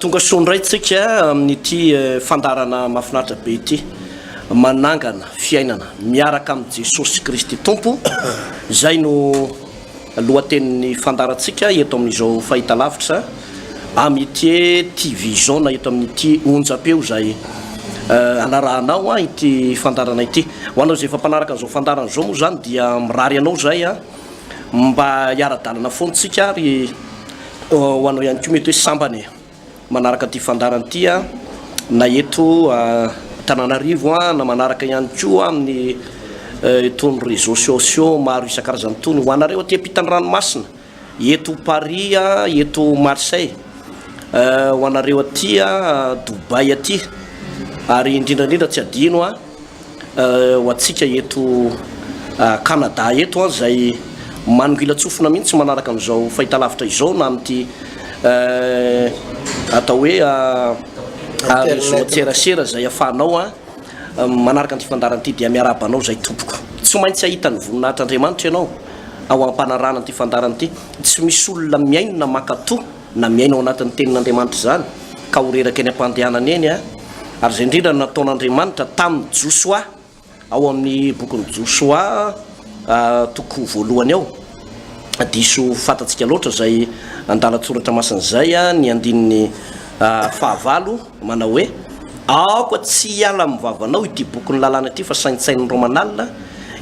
Tonga soa indray tsika amin'ity fandaharana mahafinaritra be ity. Manangana fiainana miaraka amin'i Jesosy Kristy Tompo, izay no lohatenin'ny fandaharantsika eto amin'izao fahitalavitra Amitié TV Zone eto amin'ity onjam-peo izay anarahanao ity fandaharana ity. Ho anao izay efa mpanaraka an'izao fandaharana izao moa izany dia mirary anao izay. mba hiara-dalana foana tsika ary ho anao ihany koa mety hoe sambany e manaraka ity fandarana ity a na eto Tananarivo a na manaraka ihany koa amin'ny itony réseaux sociaux maro isan-karazany itony ho anareo aty am-pitan'ny ranomasina eto Paris a eto Marseille ho anareo aty a Dubaï aty ary indrindra indrindra tsy adino a Ho antsika eto Canada eto izay manongilan-tsofina mihitsy manaraka an'izao fahitalavitra izao na amin'ity atao hoe réseau an-tserasera izay afahanao manaraka an'ity fandaharana ity dia miarahaba anao izay tompoko. Tsy maintsy hahita ny voninahitr'Andriamanitra ianao ao am-panarahana an'ity fandaharana ity. Tsy misy olona mihaino na mankatò na miaina ao anatin'ny Tenin'Andriamanitra izany, ka ho reraka eny am-pandehanana eny, ary izay indrindra no nataon'Andriamanitra tamin'i Josoa ao amin'ny bokin'i Josoa toko voalohany ao. Diso fantatsika loatra izay andalan-tsoratra masina izay ny andininy fahavalo manao hoe, Aoka tsy hiala amin'ny vavanao ity bokin'ny lalàna ity fa saintsaininreo manalina,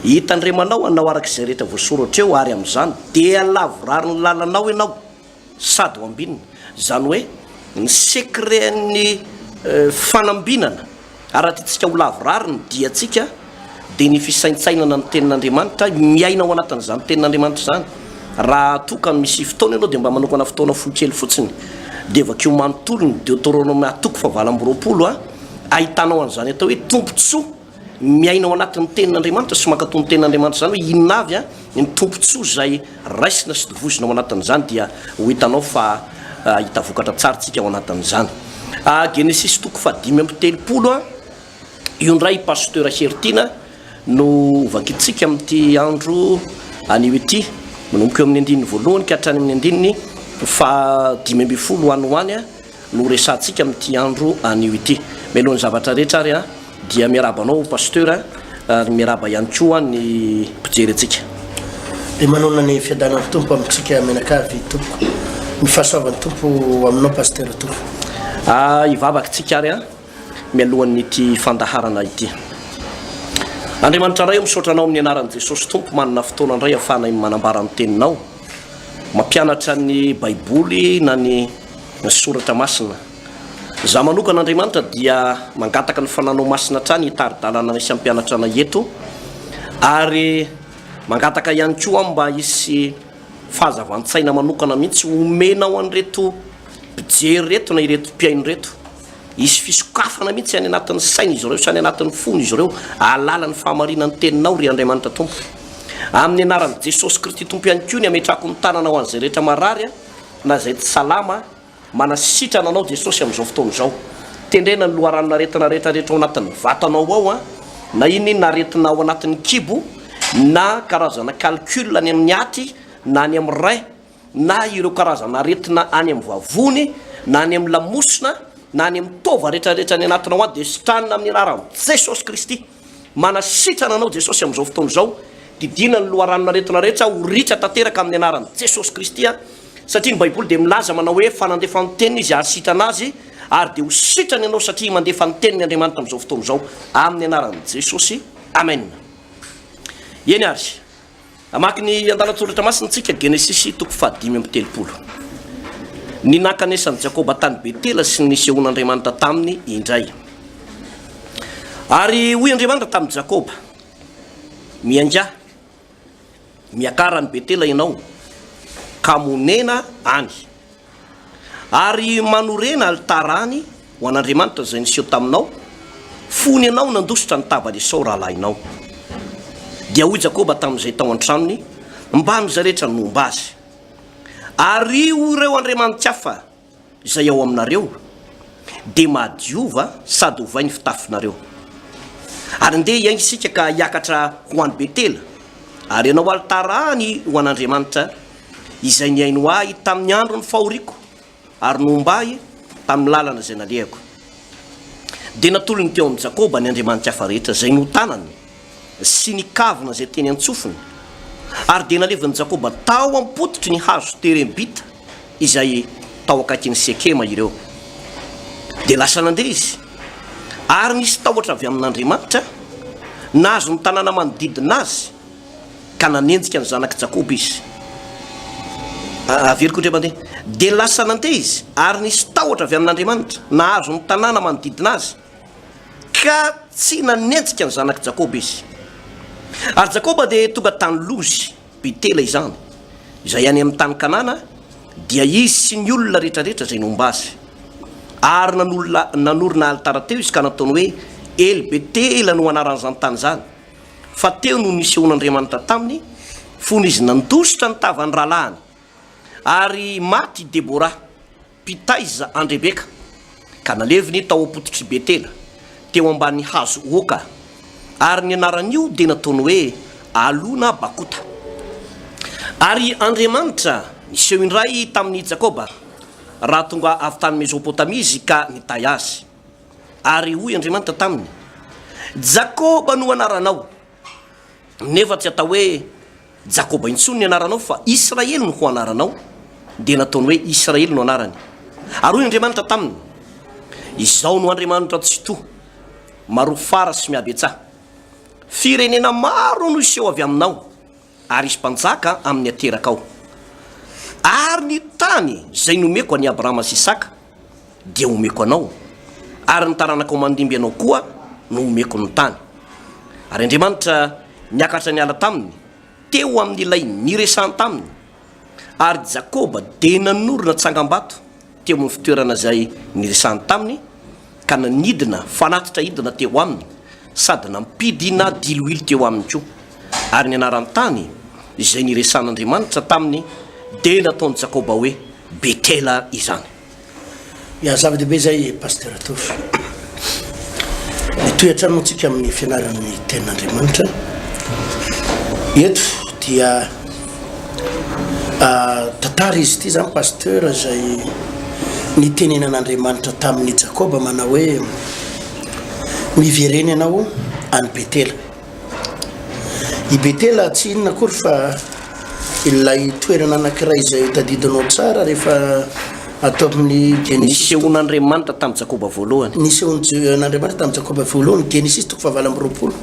hitandremanao hanao araka izay rehetra voasoratra eo, ary amin'izany dia lavorarin'ny lalanao ianao. Sady ho ambinina. Izany hoe ny secret-n'ny fanambinana, raha tiantsika ho lavorary ny diantsika, dia ny fisaintsainana ny Tenin'Andriamanitra, miaina ao anatin'izany Tenin'Andriamanitra izany. Raha toa ka misy fotoana ianao dia mba manokana fotoana fohy kely fotsiny dia vakio manontolo ny Deoteronoma toko fahavalo amby roapolo, ahitanao an'izany atao hoe tombontsoa. Miaina ao anatin'ny tenin'Andriamanitra sy mankatò ny tenin'Andriamanitra izany hoe inona avy ny tombontsoa izay raisina sy tovozina ao anatin'izany dia ho hitanao fa hahita vokatra tsara isika ao anatin'izany. Genesisy toko fahadimy amby telopolo, io indray i Pasteur Heritiana no hovakintsika amin'ity andro anio ity, manomboka eo amin'ny andininy voalohany ka hatrany amin'ny andininy fahadimy ambin'ny folo ho any ho any. no resahantsika amin'ity andro anio ity. Mialohan'ny zavatra rehetra ary dia miarahaba anao Pasteur ary miarahaba ihany koa ny mpijery antsika. Dia manonona ny fiadanan'ny Tompo amintsika mianakavy tompoko. Ny fahasoavan'ny Tompo aminao Pasteur tompoko. Ah, hivavaka isika ary mialohan'ity fandaharana ity. Andriamanitra Ray ô, misaotra Anao amin'ny anaran'i Jesosy Tompo manana fotoana indray ahafahanay manambara ny Teninao, mampianatra ny Baiboly na ny. ny soratra masina. Za manokana Andriamanitra dia mangataka ny fananao masina hatrany hitari-dalana ny samy mpianatra anay eto ary mangataka ihany koa aho mba hisy fahazavan-tsaina manokana mihitsy homenao an'ireto mpijery reto na ireto mpihaino reto hisy fisokafana mihitsy any anatin'ny saina izy ireo sy any anatin'ny fony izy ireo alala ny fahamarinan'ny teninao ry Andriamanitra Tompo amin'ny anaran'i Jesosy Kristy Tompo ihany koa ny ametrako ny tanana ho an'izay rehetra marary na izay tsy salama, manasitrana anao Jesosy amin'izao fotoana izao, tendrena ny loharanon'aretina rehetra rehetra ao anatin'ny vatanao ao an, na inona inona aretina ao anatin'ny kibo, na karazana calcul any amin'ny aty na any amin'ny rein, na ireo karazana aretina any amin'ny vavony, na any amin'ny lamosina, na any amin'ny taova rehetra rehetra any anatinao any dia sitranina amin'ny anaran'i Jesosy Kristy. Manasitrana anao Jesosy amin'izao fotoana izao, didiana ny loharanon-aretina rehetra ho ritra tanteraka amin'ny anaran'i Jesosy Kristy a! satria ny baiboly dia milaza manao hoe fa nandefa ny teniny izy hahasitrana azy ary dia ho sitrana ianao satria mandefa ny teniny Andriamanitra amin'izao fotoana izao amin'ny anaran'i Jesosy Amen! Eny ary. Hamaky ny andalan-tsoratra masina isika, Genesisy toko fahadimy amby telopolo. Ny nankanesan'i Jakoba tany Betela sy ny nisehoan'Andriamanitra taminy indray. Ary hoy Andriamanitra tamin'i Jakoba, Miaingaha, miakara any Betela ianao, ka monena any. Ary manorena alitara any ho an'Andriamanitra izay niseho taminao, fony ianao nandositra ny tavan'i Esao rahalahinao. Dia hoy Jakoba tamin'izay tao an-tranony mbamin'izay rehetra nomba azy, Ariho ireo andriamanithafa izay ao aminareo, dia mahadiova sady ovay ny fitafinareo. Ary ndeha hiainga isika ka hiakatra ho any Betela, ary hanao alitara any ho an'Andriamanitra Izay nihaino ahy tamin' ny andron' ny fahoriako ary nohomba ahy tamin' ny lalana izay nalehako. Dia natolony teo amin' i Jakoba ny andriamanitry hafa rehetra izay notanany sy ny kavina izay teny an-tsofiny, ary dia nalevin' i Jakoba tao am-pototry ny hazo terebita izay tao akaikin' i Sekema ireo. Dia lasa nandeha izy, ary nisy tahotra avy amin' Andriamanitra nahazo ny tanàna manodidina azy. ka nanenjika ny zanak'i Jakoba izy. A- Averiko indray mandeha. Dia lasa nandeha izy, ary nisy tahotra avy amin'Andriamanitra nahazo ny tanàna manodidina azy, ka tsy nanenjika ny zanak'i Jakoba izy. Ary Jakoba dia tonga tany Lozy, Betela izany, izay any amin'ny tany Kanana, dia izy sy ny olona rehetrarehetra izay nomba azy. Ary nanolona- nanorina alitara teo izy ka nataony hoe El-Betela no anaran'izany tany izany. fa teo no nisehoan'Andriamanitra taminy, fony izy nandositra ny tavan'ny rahalahiny, ary maty i Debora, mpitaiza an'i Rebeka, ka naleviny tao am-pototr'i Betela, teo ambany hazo oka, ary ny anaran'io dia nataony hoe Alona Bakota. Ary Andriamanitra niseho indray tamin'i Jakoba, raha tonga avy tany Mezopotamia izy ka nitahy azy. Ary hoy Andriamanitra taminy, Jakoba no anaranao, nefa tsy hatao hoe Jakoba intsony ny anaranao, fa Israely no ho anaranao, dia nataony hoe Israely no anarany. Ary hoy Andriamanitra taminy, Izaho no Andriamanitra Tsitoha, Marofara sy Mihabetsaha. Firenena maro no hiseho avy aminao, Ary hisy mpanjaka amin'ny aterakao. Ary ny tany izay nomeko an'i Abrahama sy Isaka dia homeko anao, ary ny taranakao mandimby anao koa no homeko ny tany. Ary Andriamanitra niakatra niala taminy teo amin'ilay niresahany taminy, ary Jakoba dia nanorina tsangambato, teo amin'ny fitoerana izay niresahany taminy ka nanidina fanatitra hidina teo aminy sady nampidina diloilo teo aminy koa, ary ny anaran-tany izay niresahan'Andriamanitra taminy dia nataon'i Jakoba hoe Betela izany. Ya, zava-dehibe izay Pasitera Tovo. Mitohy hatrany moa isika amin'ny fianarana ny Tenin'Andriamanitra eto dia. Tantara izy ity zany Pasteur izay nitenenan'Andriamanitra tamin'i Jakoba manao hoe miverena ianao any Betela. I Betela tsy inona akory fa ilay toerana anankiray izay tadidinao tsara rehefa ato amin'ny Genesisy. Nisehoan'Andriamanitra tamin'i Jakoba voalohany. Nisehoan'Andriamanitra tamin'i Jakoba voalohany, Genesisy toko fahavalo amby roapolo,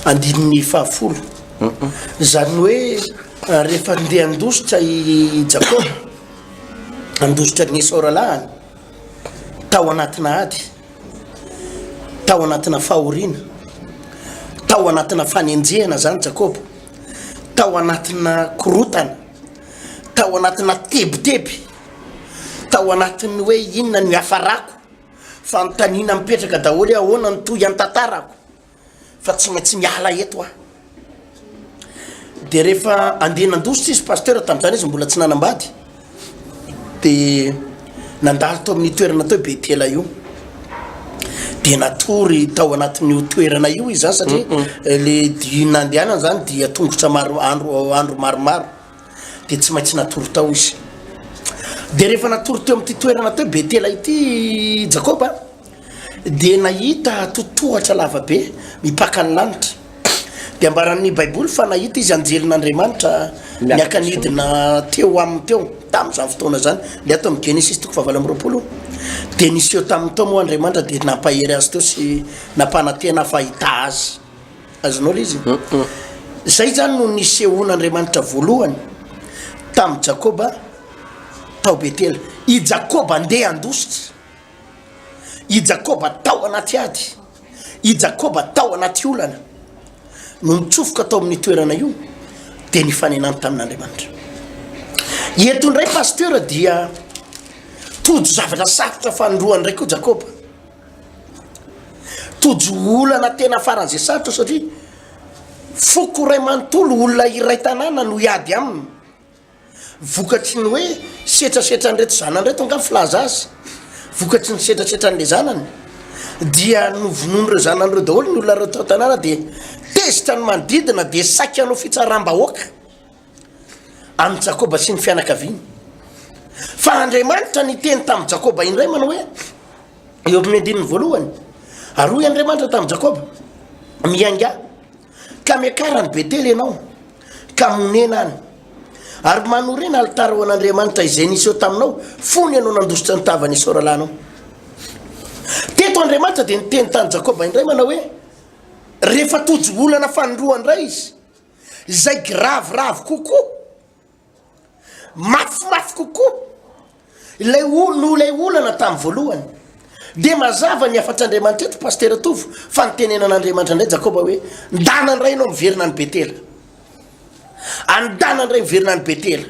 andininy fahafolo. Izany hoe rehefa ndeha handositra i Jakoba, handositra an'i Esao rahalahiny, tao anatina ady, tao anatina fahoriana, tao anatina fanenjehana izany Jakoba, tao anatina korotana, tao anatina tebiteby, tao anatin'ny hoe inona no hiafarako, fanontaniana mipetraka daholo hoe ahoana no tohintantarako. fa tsy maintsy miala eto aho dia rehefa andeha nandositra izy pasteur tamin'izany izy mbola tsy nanambady dia nandalo tao amin'ny toerana tao betela io dia natory tao anatin'io toerana io izy zany satria eh, le di nandehanana zany dia tongotra maro andro andro maromaro dia tsy maintsy natory tao izy dia rehefa natory teo amin'ity toerana teo betela ity jakoba Dia nahita totohatra lavabe mipaka ny lanitra. Dia ambaran'ny Baiboly fa nahita izy anjelin'Andriamanitra niaka-nidina teo aminy teo, tamin'izany fotoana izany. Dia ato amin'ny Genesisy toko fahavalo amby roapolo, dia niseho taminy tao moa Andriamanitra, dia nampahery azy teo sy nampanantena fa hahita azy. Azonao ilay izy? Izay izany no nisehoan'Andriamanitra voalohany tamin'i Jakoba tao Betela. I Jakoba andeha handositra. I Jakoba tao anaty ady, i Jakoba tao anaty olana, no nitsofoka tao amin'ny toerana io, dia nifanenany tamin'Andriamanitra. Eto indray pasteur dia tojo zavatra sarotra fanindroany indray koa Jakoba. Tojo olana tena faran'izay sarotra satria foko iray manontolo, olona iray tanàna no hiady aminy. Vokatry ny hoe setrasetran'ireto zanany ireto angaha ny filaza azy, vokatry ny setrasetran'ilay zanany dia novonoin'ireo zanany ireo daholo ny olona reto tanàna dia tezitra ny manodidina dia saika hanao fitsaram-bahoaka amin'i Jakoba sy ny fianakaviany. Fa Andriamanitra niteny tamin'i Jakoba indray manao hoe eo amin'ny andininy voalohany ary hoy Andriamanitra tamin'i Jakoba miainga Ka miakara any Betela ianao, ka monena any. Ary manorina alitara ho an'Andriamanitra izay niseho taminao fony ianao nandositra ny tavan'i Esao rahalahinao. Teto Andriamanitra dia niteny tany Jakoba indray manao hoe, rehefa tojo olana fanindroany indray izy, izay giraviravy kokoa, Mafimafy kokoa ilay olona noho ilay olana tamin'ny voalohany. Dia mazava ny hafatr'Andriamanitra eto Pasitera Tovo fa nitenenan'Andriamanitra indray Jakoba hoe, Ndana indray ianao miverina any Betela. Andana indray miverina any Betela.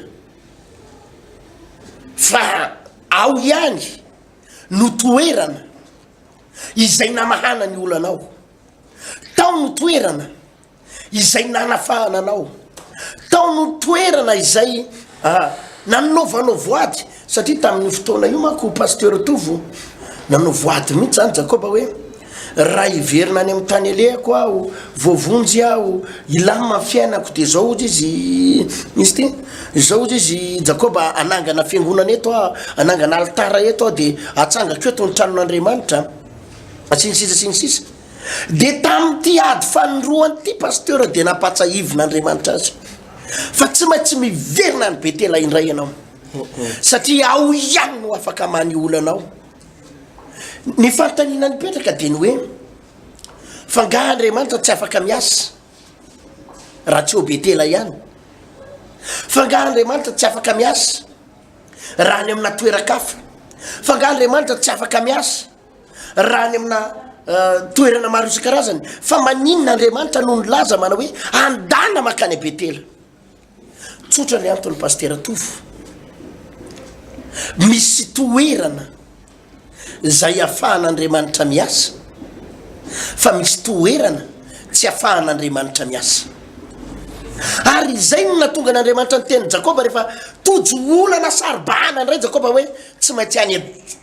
Fa ao ihany no toerana izay namahana ny olanao. Tao no toerana. izay nanafahana anao tao no toerana izay a ah, nanovanao voady satria tamin'io fotoana io manko pasteur tovo nanao voady mihitsy zany jakoba hoe raha hiverina any amin'ny tany alehako aho voavonjy aho ilama fiainako de zao ozy izy izy ty zao ozy izy jakoba anangana fiangonana eto ah anangana alitara eto aho de atsangako eto ny tranon'andriamanitra asinisisa asinisisa Dia tamin'ity ady fanindroany ity Pasteur dia nampatsahivin' Andriamanitra azy fa tsy maintsy miverina any Betela indray ianao satria ao ihany no afaka manihola anao. Ny fanontaniana nipetraka dia ny hoe fa nga Andriamanitra tsy afaka miasa raha tsy ao Betela ihany? Fa nga Andriamanitra tsy afaka miasa raha any amina toeran-kafa? Fa nga Andriamanitra tsy afaka miasa raha any amina toerana maro isan-karazany fa maninona andriamanitra no ny laza manao hoe andana makany a betela tsotra ny antony pastera tofo misy toerana zay afahan'andriamanitra miasa fa misy toerana tsy afahan'andriamanitra miasa ary izay no natonga an'andriamanitra ny teny jakoba rehefa tojo olana saribahana ndray jakoba hoe tsy maintsy any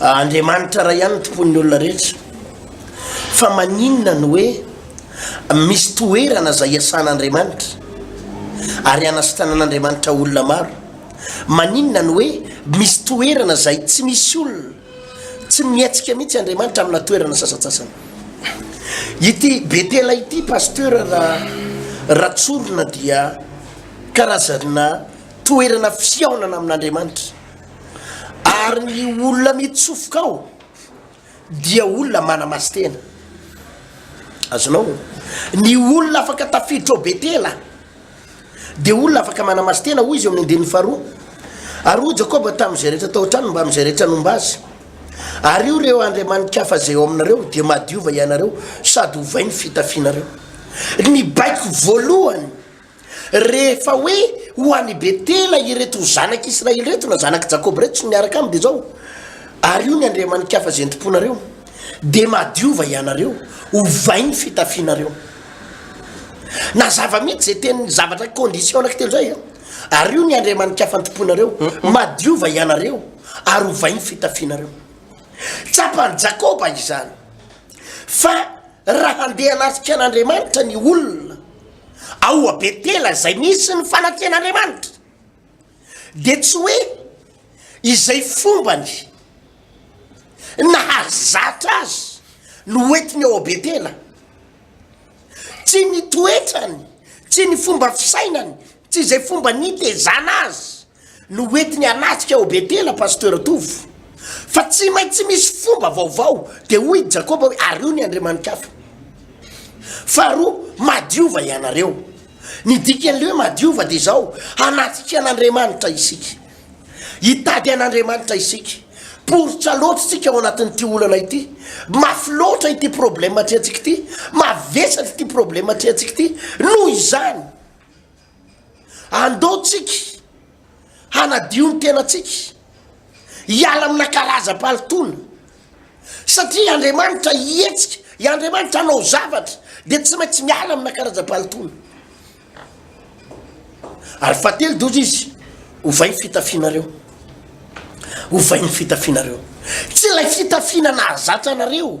Andriamanitra ray ihany no tompon'ny olona rehetra fa maninona no hoe misy toerana izay iasan'Andriamanitra ary anasitanan'Andriamanitra olona maro? Maninona no hoe misy toerana izay tsy misy olona? Tsy mihetsika mihitsy Andriamanitra amina toerana sasatsasany. Ity Betela ity Pasteur ra Ratsorona dia karazana toerana fihaonana amin'Andriamanitra. Ary ny olona mitsofoka ao dia olona manamasin-tena. Azonao? Ny olona afaka tafiditra ao Betela dia olona afaka manamasin-tena, hoy izy eo amin'ny andininy faharoa. Ary hoy Jakoba tamin'izay rehetra tao an-tranony mbamin'izay rehetra nomba azy, Ary io ireo andriamani-kafa izay ao aminareo dia madiova ianareo sady ovay ny fitafianareo. Ny baiko voalohany. Rehefa hoe ho any Betela ireto ho zanak' Israely ireto, na zanak' i Jakoba ireto sy ny miaraka aminy, dia izao, Ary io ny andriamani-kafa izay entim-ponareo, dia madiova hianareo, ovay ny fitafianareo. Nazava mihitsy izay teny zavatra condition anankitelo izay a! Ary io ny andriamani-kafa anti-ponareo, madiova hianareo, ary ovay ny fitafianareo. Tsapan'i Jakoba izany fa. Raha handeha hanafika an'Andriamanitra ny olona ao Betela izay misy ny fanafihan'Andriamanitra, dia tsy hoe izay fombany nahazatra azy no hoentiny ao Betela. Tsy ny toetrany, tsy ny fomba fisainany, tsy izay fomba nitezana azy no hoentiny hanatrika ao Betela Pasteur Tovo fa tsy maintsy misy fomba vaovao dia hoy i Jakoba hoe ario ny andriamanikafa faharoa madiova ianareo ny dikan'ilay hoe madiova dia izao hanatrika an'Andriamanitra isika hitady an'Andriamanitra isika poritra loatra isika ao anatin'ity olana ity mafy loatra ity problème atrehantsika ity mavesatra ity problème atrehantsika ity noho izany Andao tsika hanadio ny tenantsika, hiala amina karazam-pahalotoana, satria Andriamanitra hihetsika, i Andriamanitra hanao zavatra, dia tsy maintsy miala amina karazam-pahalotoana. Ary fahatelo doza izy, ovay ny fitafianareo. Ovay ny fitafianareo. Tsy ilay fitafiana nahazatra anareo.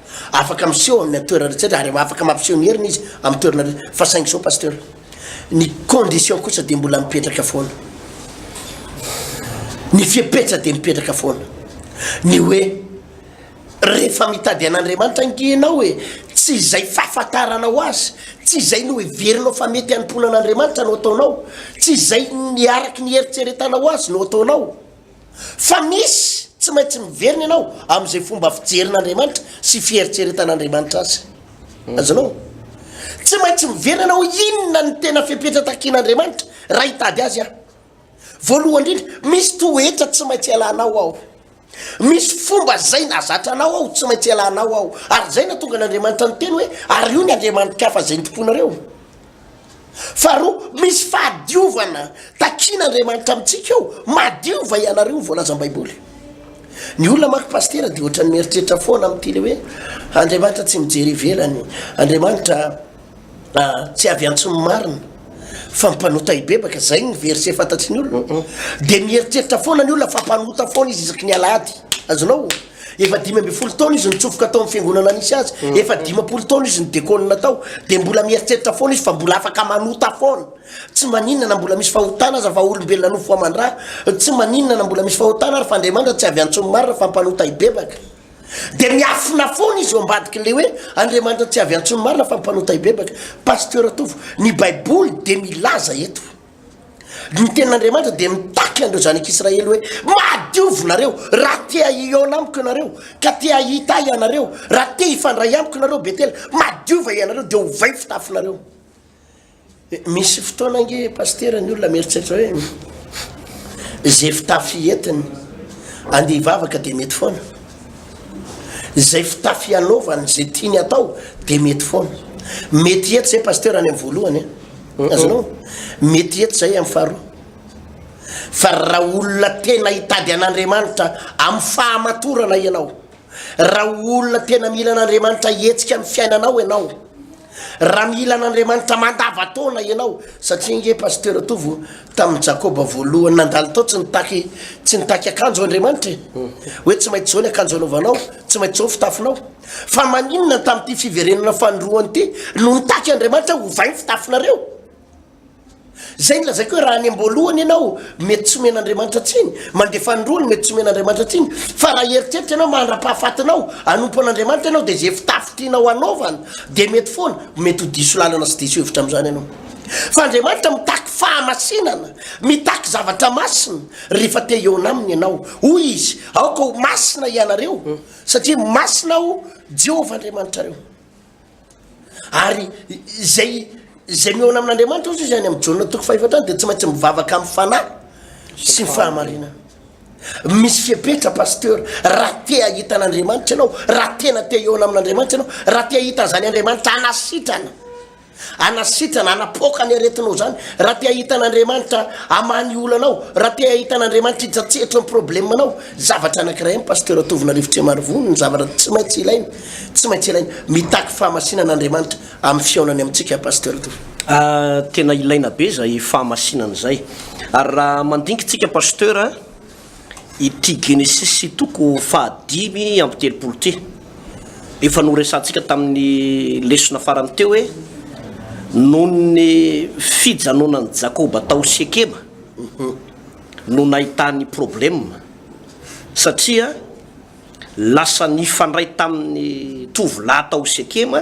Afaka miseho amin' ny atoerana rehetra ary afaka mampiseho ny heriny izy amin' ny toerana rehetra fa saingy izao Pasteur, ny condition kosa dia mbola mipetraka foana. Ny fepetra dia mipetraka foana. Ny hoe rehefa mitady an' Andriamanitra ange ianao e, tsy izay fahafantaranao azy, tsy izay noheverinao fa mety hanompoana an' Andriamanitra no ataonao, tsy izay ny araka ny heritreretanao azy no ataonao. Fa misy tsy maintsy miverina ianao amin'izay fomba fijerin'Andriamanitra sy fieritreretan'Andriamanitra azy. Mhm. Azonao? Tsy maintsy miverina ianao inona ny tena fepetra takian'Andriamanitra raha hitady azy aho. Voalohany indrindra, misy toetra tsy maintsy ialanao aho. Misy fomba zay nazatranao aho tsy maintsy ialanao aho. Ary zay natonga an'Andriamanitra niteny hoe ary io ny andriamani-kafa zay nitompoinareo. Faharoa, misy fahadiovana takian'Andriamanitra amintsika ao, madio va ianareo ny voalazan'ny Baiboly? Ny olona manko Pasitera dia ohatran'ny mieritreritra foana amin'ity ilay hoe Andriamanitra tsy mijery ivelany, Andriamanitra tsy avy antso ny marina fa mpanota hibebaka, izay ny verset fantatry ny olona, dia mieritreritra foana ny olona fa mpanota foana izy isaky ny alahady, azonao? Efa dimy ambin'ny folo taona izy nitsofoka tao amin'ny fiangonana nisy azy, mm. efa dimampolo taona izy nidekônina tao, dia mbola mieritreritra foana izy fa mbola afaka manota foana. Tsy maninona na mbola misy fahotana aza fa olombelona nofo aman-dra, tsy maninona na mbola misy fahotana ary fa Andriamanitra tsy avy antsoin'ny marina fa mpanota hibebaka. Dia miafina foana izy eo ambadik'ilay hoe Andriamanitra tsy avy antsoin'ny marina fa mpanota hibebaka. Pasteur Tovo, ny Baiboly dia milaza eto. Ny tenin'Andriamanitra dia mitaky an'ireo zanak'Israely hoe, Madiovinareo, raha te hahihaona amiko ianareo, ka te hahita ahy ianareo, raha te hifandray amiko ianareo, Betela, madiova ianareo, dia ovay fitafinareo. Misy fotoana ange pasitera ny olona mieritreritra hoe izay fitafy entiny andeha hivavaka dia mety foana. Izay fitafy hanaovany izay tiany hatao dia mety foana. Mety hiety izay Pasteur any amin'ny voalohany eh. Azonao? Mety hiety izay amin'ny faharoa. Fa raha olona tena hitady an'Andriamanitra amin'ny fahamatorana ianao, raha olona tena mila an'Andriamanitra hihetsika amin'ny fiainanao ianao, Raha mila an'Andriamanitra mandavan-taona ianao, satria ange Pasteur Tovo, tamin'ny Jakoba voalohany nandalo tao tsy nitaky tsy nitaky akanjo Andriamanitra e! Hoe tsy maintsy izao ny akanjo anaovanao, tsy maintsy izao ny fitafinao. Fa maninona tamin'ity fiverenana fanindroany ity no nitaky Andriamanitra hoe ovainy ny fitafinareo? Izay nolazaiko hoe raha any am-boalohany ianao, mety tsy omena Andriamanitra tsiny, mandeha fanindroany, mety tsy omena Andriamanitra tsiny, fa raha hieritreritra ianao mandra-pahafatinao, hanompo an'Andriamanitra ianao, dia izay fitafy tianao hanaovana dia mety foana, mety ho diso lalana sy diso hevitra amin'izany ianao. Fa Andriamanitra mitaky fahamasinana, mitaky zavatra masina, rehefa te hihaona Aminy ianao. Hoy Izy, Aoka ho masina hianareo, satria masina Aho, Jehovah Andriamanitrareo. Ary izay izay mihaona amin'Andriamanitra hozy izy any amin'ny Jaona toko fahefatra any dia tsy maintsy mivavaka amin'ny fanahy sy ny fahamarinana. Misy fiepetra pasteur, raha te hahita an'Andriamanitra ianao, raha tena te hihaona amin'Andriamanitra ianao, raha te hahita an'izany Andriamanitra anasitrana, anasitrana, anapoaka ny aretinao izany, raha te hahita an'Andriamanitra hamaha ny olanao, raha te hahita an'Andriamanitra hitsatsehetro ny problemanao, zavatra anankiray ny pasteur Tovonarivo Trimarivony, ny zavatra tsy maintsy ilaina. Tsy maintsy ilaina. Mitaky fahamasinana Andriamanitra amin'ny fihaonany amintsika Pasteur Tovo. Ah tena ilaina be izay fahamasinana izay. Ary raha mandinika tsika Pasteur ity Genesis toko faha dimy amby telopolo ity. Efa noresahantsika tamin'ny lesona farany teo hoe nohon'ny fijanonan'i Jakoba tao Sekema no nahitany problème satria Lasa nifandray tamin'ny tovolahy tao Sekema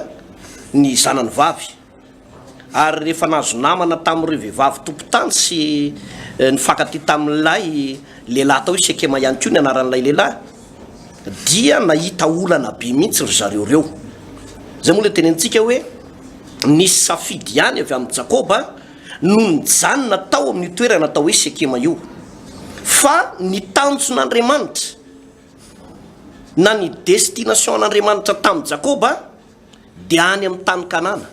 ny zanany vavy, ary rehefa nahazo namana tamin'ireo vehivavy tompon-tany sy nifankatia tamin'ilay lehilahy tao Sekema ihany koa ny anaran'ilay lehilahy, dia nahita olana be mihitsy ry zareo ireo. Izay moa ilay tenenintsika hoe, Nisy safidy ihany avy amin'i Jakoba no nijanona tao amin'io toerana atao hoe Sekema io, fa ny tanjon'Andriamanitra. Na ny destination an'Andriamanitra tamin'i Jakoba dia any amin'ny tany Kanana,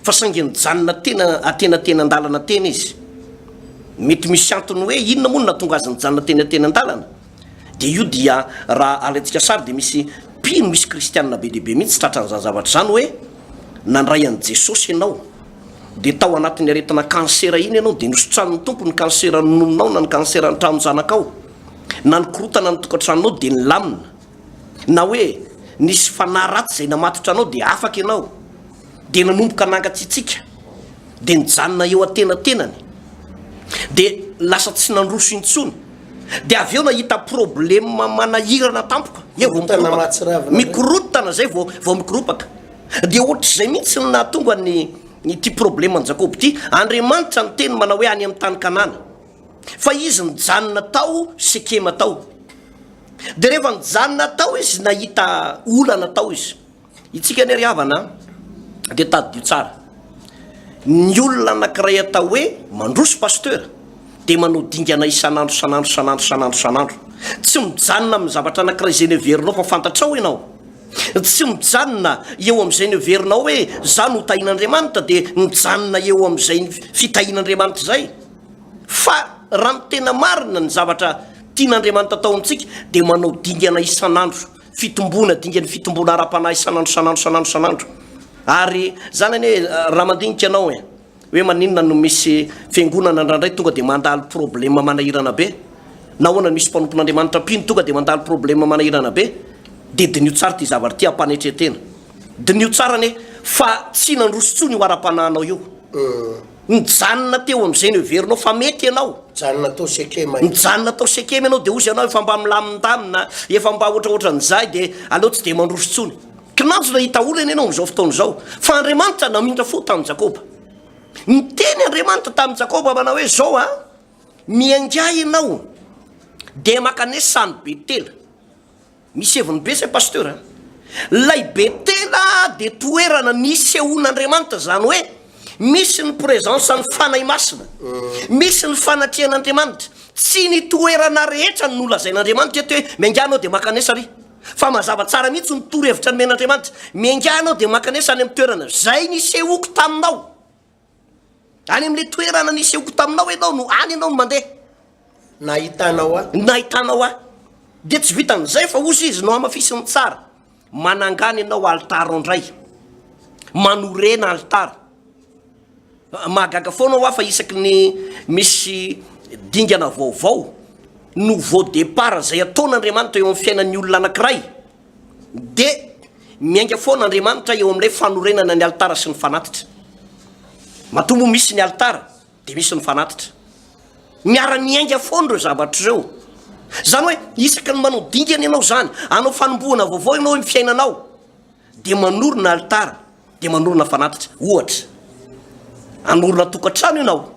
fa saingy nijanona tena atenatenan-dalana tena izy. Mety misy antony hoe inona moa no nahatonga azy nijanona teny atenan-dalana? Dia io dia raha alaintsika sary dia misy mpino, misy kristianina be dia be mihitsy tratran'izany zavatra izany hoe nandray an'i Jesosy ianao, dia tao anatin'ny aretina kansera iny ianao, dia nosotranin'ny Tompo ny kansera nononao na ny kansera ny tranon-janakao. na ny korotana ny tokantranonao dia nilamina, na hoe nisy fanahy ratsy izay namatotra anao dia afaka ianao, dia nanomboka nangatsiatsiaka, dia nijanona eo antenatenany, dia lasa tsy nandroso intsony, dia avy eo nahita problema manahirana tampoka, eo vao mikoropaka, mikorotana izay vao vao mikoropaka, dia ohatr'izay mihitsy no nahatonga ny ity probleman'i Jakoba ity, Andriamanitra niteny manao hoe any amin'ny tany Kanana. fa izy nijanona tao Sekema tao, dia rehefa nijanona tao izy nahita olana tao izy, itsika anie ry havana an, dia tadidio tsara, ny olona anankiray atao hoe Mandroso Pasteur dia manao dingana isan'andro isan'andro isan'andro isan'andro isan'andro, tsy mijanona amin'ny zavatra anankiray izay noheverinao fa fantatrao ianao, tsy mijanona eo amin'izay noheverinao hoe zah no tahin'Andriamanitra dia mijanona eo amin'izay fitahian'Andriamanitra izay. Fa raha ny tena marina, ny zavatra tian'Andriamanitra atao amintsika dia manao dingana isan'andro, fitomboana, dingan'ny fitomboana ara-panahy isan'andro, isan'andro, isan'andro, isan'andro. Ary izany anie raha mandinika ianao e, hoe maninona no misy fiangonana indraindray tonga dia mandalo problema manahirana be? Nahoana no misy mpanompon'Andriamanitra mpino tonga dia mandalo problema manahirana be? Dia diniho tsara ity zavatra ity hampanetren-tena. Diniho tsara anie fa tsy nandroso intsony io ara-panahinao io. Mijanona teo amin'izay noheverinao fa mety ianao. Mijanona tao Sekema izy. Mijanona tao Sekema ianao, dia hozy ianao efa mba milamindamina, efa mba hoatrahoatran'izay, dia aleo tsy dia mandroso intsony. Kinanjona i Taola anie ianao amin'izao fotoana izao, fa Andriamanitra namindra fo tamin'i Jakoba. Niteny Andriamanitra tamin'i Jakoba manao hoe, Izao an, miaingaha ianao, dia mankanesa any Betela. Misy heviny be zay Pasteur a! Lay Betela dia toerana nisehoan'Andriamanitra, izany hoe misy ny presence ny Fanahy Masina, misy ny fanatrehan'Andriamanitra, tsy ny toerana rehetra no nolazain'Andriamanitra eto hoe miaingaha anao dia mankanesa ary fa mazava tsara mihitsy ny torohevitra nomen'Andriamanitra, miaingaha anao dia mankanesa any amin'ny toerana izay nisehoako taminao. Any amin'ilay toerana nisehoko taminao ianao no any ianao no mandeha. Nahitanao ahy. Nahitanao ahy. Dia tsy vitan'izay fa hozy izy nohamafisin'ny tsara, Manangana ianao alitara ao indray. Manorena alitara. Mahagaga foana ho ahy fa isaky ny misy dingana vaovao, nouveau départ, izay ataon'Andriamanitra eo amin'ny fiainan'ny olona anankiray, Dia miainga foana Andriamanitra eo amin'ilay fanorenana ny alitara sy ny fanatitra. Matoa moa misy ny alitara, dia misy ny fanatitra. Miara-miainga foana ireo zavatra ireo. Izany hoe isaky ny manao dingana ianao izany, hanao fanombohana vaovao ianao amin'ny fiainanao, dia manorina alitara, dia manorina fanatitra. Ohatra, hanorina tokantrano ianao.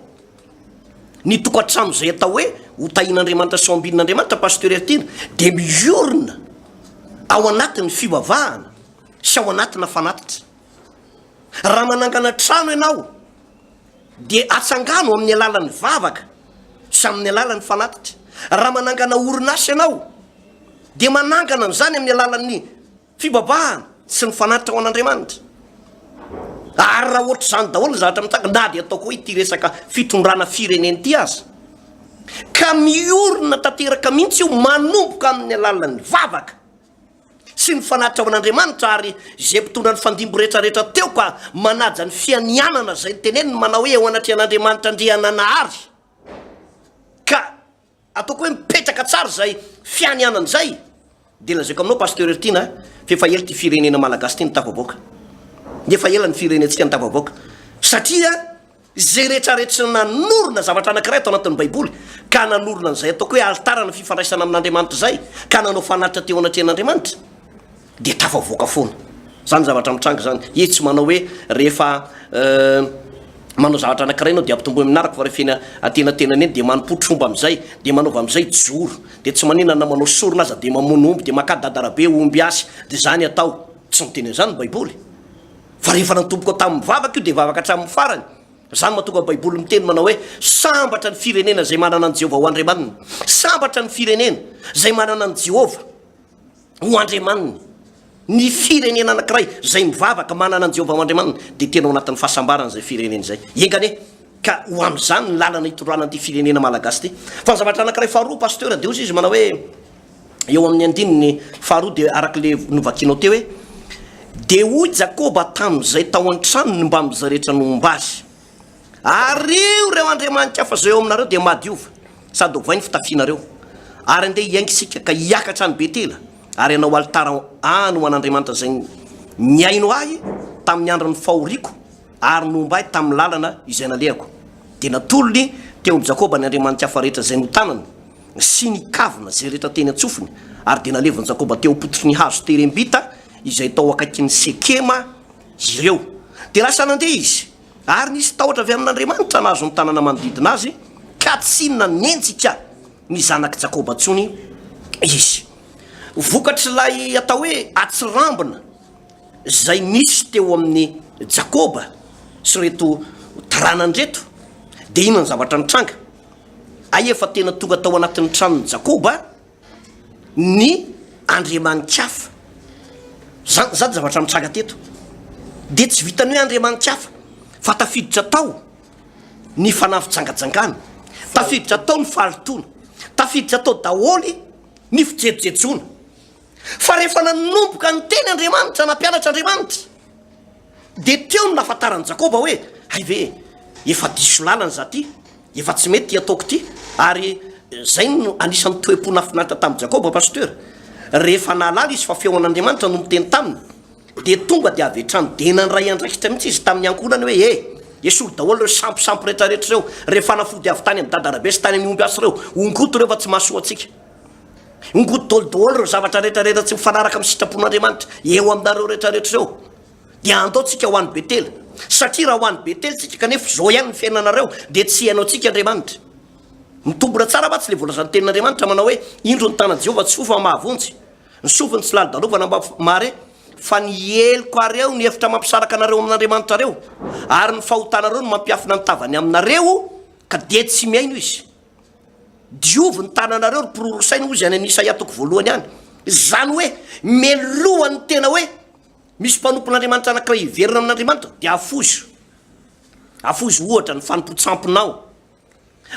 Ny tokantrano izay atao hoe ho tahian'Andriamanitra sy ho ambinin'Andriamanitra, Pasteur Heritiana, dia miorina ao anatin'ny fivavahana sy ao anatina fanatitra. Raha manangana trano ianao dia atsangano amin'ny alalan'ny vavaka sy amin'ny alalan'ny fanatitra. Raha manangana orinasa ianao dia manangana an'izany amin'ny alalan'ny. Fibabahana sy ny fanatitra ho an'Andriamanitra. Ary raha ohatr'izany daholo ny zavatra mitsanga, na dia ataoko hoe ity resaka fitondrana firenena ity aza, ka miorina tanteraka mihitsy io manomboka amin'ny alalan'ny vavaka sy ny fanatitra ho an'Andriamanitra, ary izay mpitondra ny fandimby rehetra rehetra teo ka manaja ny fianianana izay teneniny manao hoe eo anatrehan'Andriamanitra Andriananahary ka Ataoko hoe mipetraka tsara izay fianianana izay dia lazaiko aminao Pasteur Hertina a, fa efa ela ity firenena Malagasy ity no tafavoaka, efa ela ny firenentsika no tafavoaka satria izay rehetra rehetra nanorina zavatra anakiray ato anatin'ny baiboly ka nanorina an'izay ataoko hoe altarana fifandraisana amin'Andriamanitra izay ka nanao fanatitra teo anatrehan'Andriamanitra. dia tafavoaka foana. Izany zavatra mitranga izany. Izy tsy manao hoe rehefa manao zavatra anankiray ianao dia ampitomboy amin'ny naraka fa rehefa eny antenatenany eny dia manompotra omby amin'izay, dia manaova amin'izay joro. Dia tsy maninona na manao sorona aza dia mamono omby dia makà dadarabe omby asy. Dia izany atao. Tsy miteny an'izany ny Baiboly. Fa rehefa natomboko tamin'ny vavaka io dia vavaka hatramin'ny farany. Izany mahatonga ny Baiboly miteny manao hoe sambatra ny firenena izay manana an'i Jehovah ho Andriamaniny. Sambatra ny firenena izay manana an'i Jehovah. ho andriamaniny. Ny firenena anankiray izay mivavaka manana an'i Jehovah ho Andriamaniny, dia tena ao anatin'ny fahasambarana izay firenena izay. Enga anie ka ho amin'izany ny lalana hitondràna an'ity firenena malagasy ity. Fa ny zavatra anankiray faharoa, Pasteur, dia hoy izy manao hoe, eo amin'ny andininy faharoa dia araka ilay novakianao teo hoe, Dia hoy Jakoba tamin'izay tao an-tranony mbamin'izay rehetra nomba azy, Ariho ireo andriamani-kafa izay eo aminareo, dia madiova, sady ovay ny fitafianareo. Ary andeha hiainga isika, ka hiakatra any Betela, ary hanao alitara any ho an'Andriamanitra izay nihaino ahy tamin'ny andron'ny fahoriako ary nomba ahy tamin'ny lalana izay nalehako. Dia natolony teo amin'i Jakoba ny andriamani-kafa rehetra izay notanany, sy ny kavina izay rehetra teny an-tsofiny, ary dia nalevin'i Jakoba teo am-pototry ny hazo terembita izay tao akaikin'i Sekema, ireo. Dia lasa nandeha izy, ary nisy tahotra avy amin'Andriamanitra nahazo ny tanàna manodidina azy, ka tsy nanenjika ny zanak'i Jakoba intsony izy. Vokatr'ilay atao hoe atsirambina izay nisy teo amin'i Jakoba sy ireto taranany ireto, dia inona ny zavatra nitranga? Hay efa tena tonga tao anatin'ny tranon'i Jakoba ny andriamani-kafa. Izany izany zavatra nitranga teto. Dia tsy vitan'ny hoe andriamani-kafa fa tafiditra tao ny fanafijangajangana, tafiditra tao ny fahalotoana, tafiditra tao daholo ny fijejojejoana. Fa rehefa nanomboka niteny Andriamanitra, nampianatra Andriamanitra, Dia teo no nahafantaran'i Jakoba hoe, Hay ve e! Efa diso lalana izaho ity, efa tsy mety ity ataoko ity. Ary izay no anisan'ny toe-po nahafinaritra tamin'i Jakoba, Pasteur. Rehefa nahalala izy fa feon'Andriamanitra no miteny taminy, dia tonga dia avy hatrany dia nandray andraikitra mihitsy izy tamin'ny ankohonany hoe, He! Esory daholo ireo samposampy rehetrarehetra ireo, ireo fanafody avy tany amin'ny dada Rabesy tany amin'ny omby asy ireo, ongoty ireo fa tsy mahasoa antsika. Ngot dol dol ireo zavatra rehetra rehetra tsy mifanaraka amin'ny sitrapon'Andriamanitra eo aminareo rehetra rehetra ireo. Dia andao tsika ho any Betela. Satria raha ho any Betela tsika kanefa izao ihany ny fiainanareo dia tsy hihaino antsika Andriamanitra. Mitombina tsara mantsy ilay voalazan'ny tenin'Andriamanitra manao hoe indro ny tanan'i Jehovah tsy fo fa mahavonjy, ny sofiny tsy lalodalovana mba mahare, fa ny heloka ary eo ny efitra mampisaraka anareo amin'Andriamanitra reo, ary ny fahotanareo no mampiafina ny tavany aminareo ka dia tsy mihaino izy. Diovy ny tananareo ry pororo saina, hoy izy any amin'ny Isaia toko voalohany any. Izany hoe meloha ny tena hoe misy mpanompon'Andriamanitra anankiray hiverina amin'Andriamanitra, dia afoizo. Afoizo ohatra ny fanompoan-tsamponao.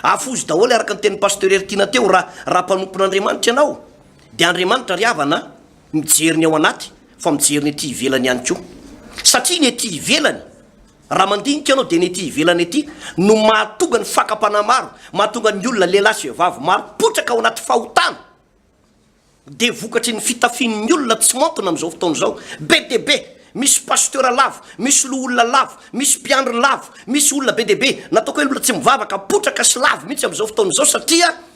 Afoizo daholo araka ny tenin'i Pasteur Heritiana teo raha raha mpanompon'Andriamanitra ianao dia Andriamanitra ry havana mijery ny ao anaty fa mijery ny ety ivelany ihany koa. Satria ny ety ivelany Raha mandinika ianao dia ny ety ivelany ety no mahatonga ny fakam-panahy maro, mahatonga ny olona lehilahy sy vehivavy maro hipotraka ao anaty fahotana. Dia vokatry ny fitafian'ny olona tsy maontina amin'izao fotoana izao. Be dia be, misy pasteur lavo, misy loholona lavo, misy mpiandry lavo, misy olona be dia be, nataoko hoe olona tsy mivavaka, potraka sy lavo mihitsy amin'izao fotoana izao satria.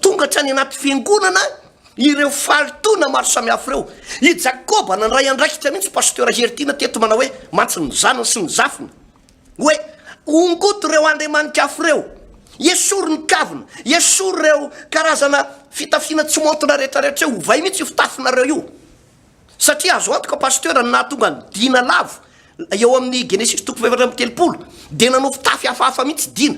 Tonga hatrany anaty fiangonana ireo fahalotoana maro samihafa ireo. I Jakoba nandray andraikitra mihitsy Pasteur Heritiana teto manao hoe mantsy ny zanany sy ny zafiny. Hoe ongoto ireo andriamani-kafa ireo. Esory ny kavina, esory ireo karazana fitafiana tsy maontina rehetra rehetra eo. Ovay mihitsy io fitafinareo io. Satria azo antoka Pasteur ny nahatonga an'i Dina lavo eo amin'ny Genesisy toko fahefatra amby telopolo dia nanao fitafy hafahafa mihitsy Dina.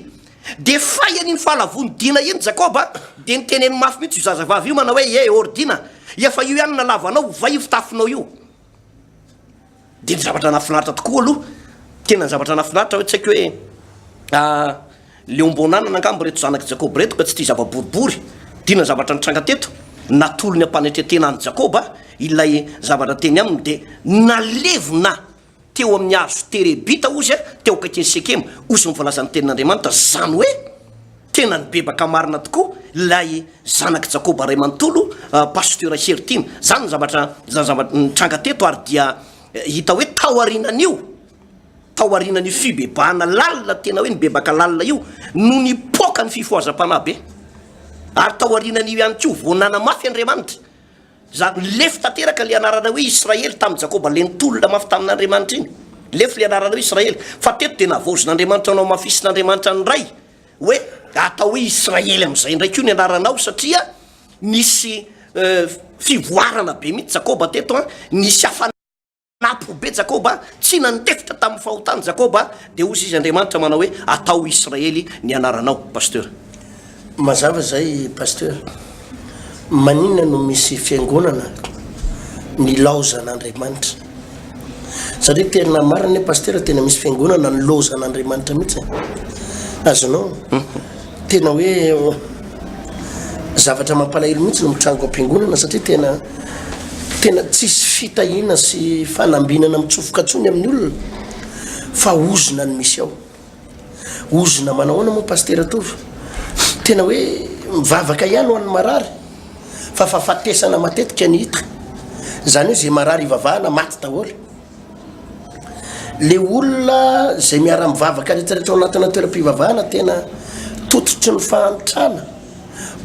Dia fay an'iny fahalavoan'i Dina iny Jacob a! dia niteneny mafy mihitsy io zazavavy io manao hoe, Eeh or Dina, efa io ihany nalavo anao, ovay io fitafinao io. Dia ny zavatra nahafinaritra tokoa aloha, tena ny zavatra nahafinaritra hoe tsy haiko hoe leom-boan'anana angamba ireto zanak'i Jakoba ireto ka tsy tia zava-boribory, dia inona ny zavatra nitranga teto? Natolony am-panetren-tena an'i Jakoba ilay zavatra teny aminy dia nalevina teo amin'ny hazo terebita ozy, teo akaikin'i Sekema ozy ny voalazan'ny tenin'Andriamanitra, izany hoe. Tena nibebaka marina tokoa ilay zanak'i Jakoba ray manontolo Pasteur Hery Tiana. Izany ny zavatra izany zavatra nitranga teto ary dia hita hoe taorianan'io taorianan'io fibebahana lalina tena hoe nibebaka lalina io no nipoaka ny fifohazam-panahy be. Ary taorianan'io ihany koa vao nanamafy Andriamanitra za lefy tanteraka ilay anarana hoe Israely tamin'i Jakoba ilay nitolona mafy tamin'Andriamanitra iny. Lefy ilay anarana hoe Israely fa teto dia navaozin'Andriamanitra namafisin'Andriamanitra ny Ray. hoe atao hoe Israely amin'izay indray koa ny anaranao satria nisy fivoarana be mihitsy Jakoba teto an, nisy hafa napy be Jakoba, tsy nandefitra tamin'ny fahotany Jakoba, dia hozy izy Andriamanitra manao hoe atao Israely ny anaranao, Pasteur. Mazava izay Pasteur. Maninona no misy fiangonana nilaozan'Andriamanitra? Satria tena marina ny pasteur tena misy fiangonana nilaozan'Andriamanitra mihitsy. Azonao? Tena hoe zavatra mampalahelo mihitsy no mitrango am-piangonana satria tena tena tsisy fitahiana sy fanambinana mitsofoka tsony amin'ny olona fa ozona ny misy ao. Ozona manahoana moa Pasitera Tovo? Tena hoe mivavaka ihany ho an'ny marary fa fahafatesana matetika ny hita. Izany hoe izay marary ivavahana maty daholo. Le olona izay miara-mivavaka rehetrarehetra ao anatina toeram-pivavahana tena tototry ny fahantrana,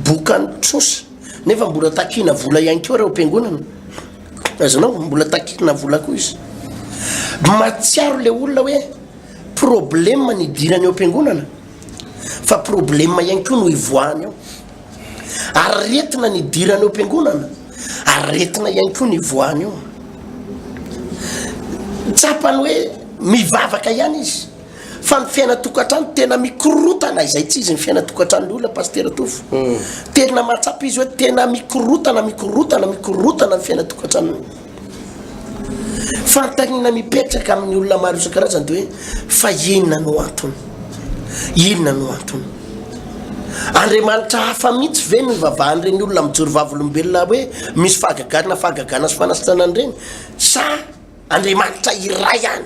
bokan'ny trosa nefa mbola takina vola ihany koa ireo mpiangonana. Azonao mbola takina vola koa izy. Mahatsiaro le olona hoe problema ny hidirany eo am-piangonana fa problema ihany koa no hivoahany ao aretina ny hidirany eo am-piangonana aretina ihany koa ny hivoahany ao tsapany hoe mivavaka ihany izy fa ny fiainatokantrano tena mikorotana izay tsy izy ny fiainatokantrano ny olona pastera tofo hmm. tena mahatsapa izy hoe tena mikorotana mikorotana mikorotana ny fiainatokantranony Fanontaniana mipetraka amin'ny olona maro isan-karazany dia hoe fa inona no antony? Inona no antony? Andriamanitra hafa mihitsy ve no ivavahan'ireny olona mijoro vavolombelona hoe misy fahagagana, fahagagana sy fanasitranana ireny sa Andriamanitra iray ihany?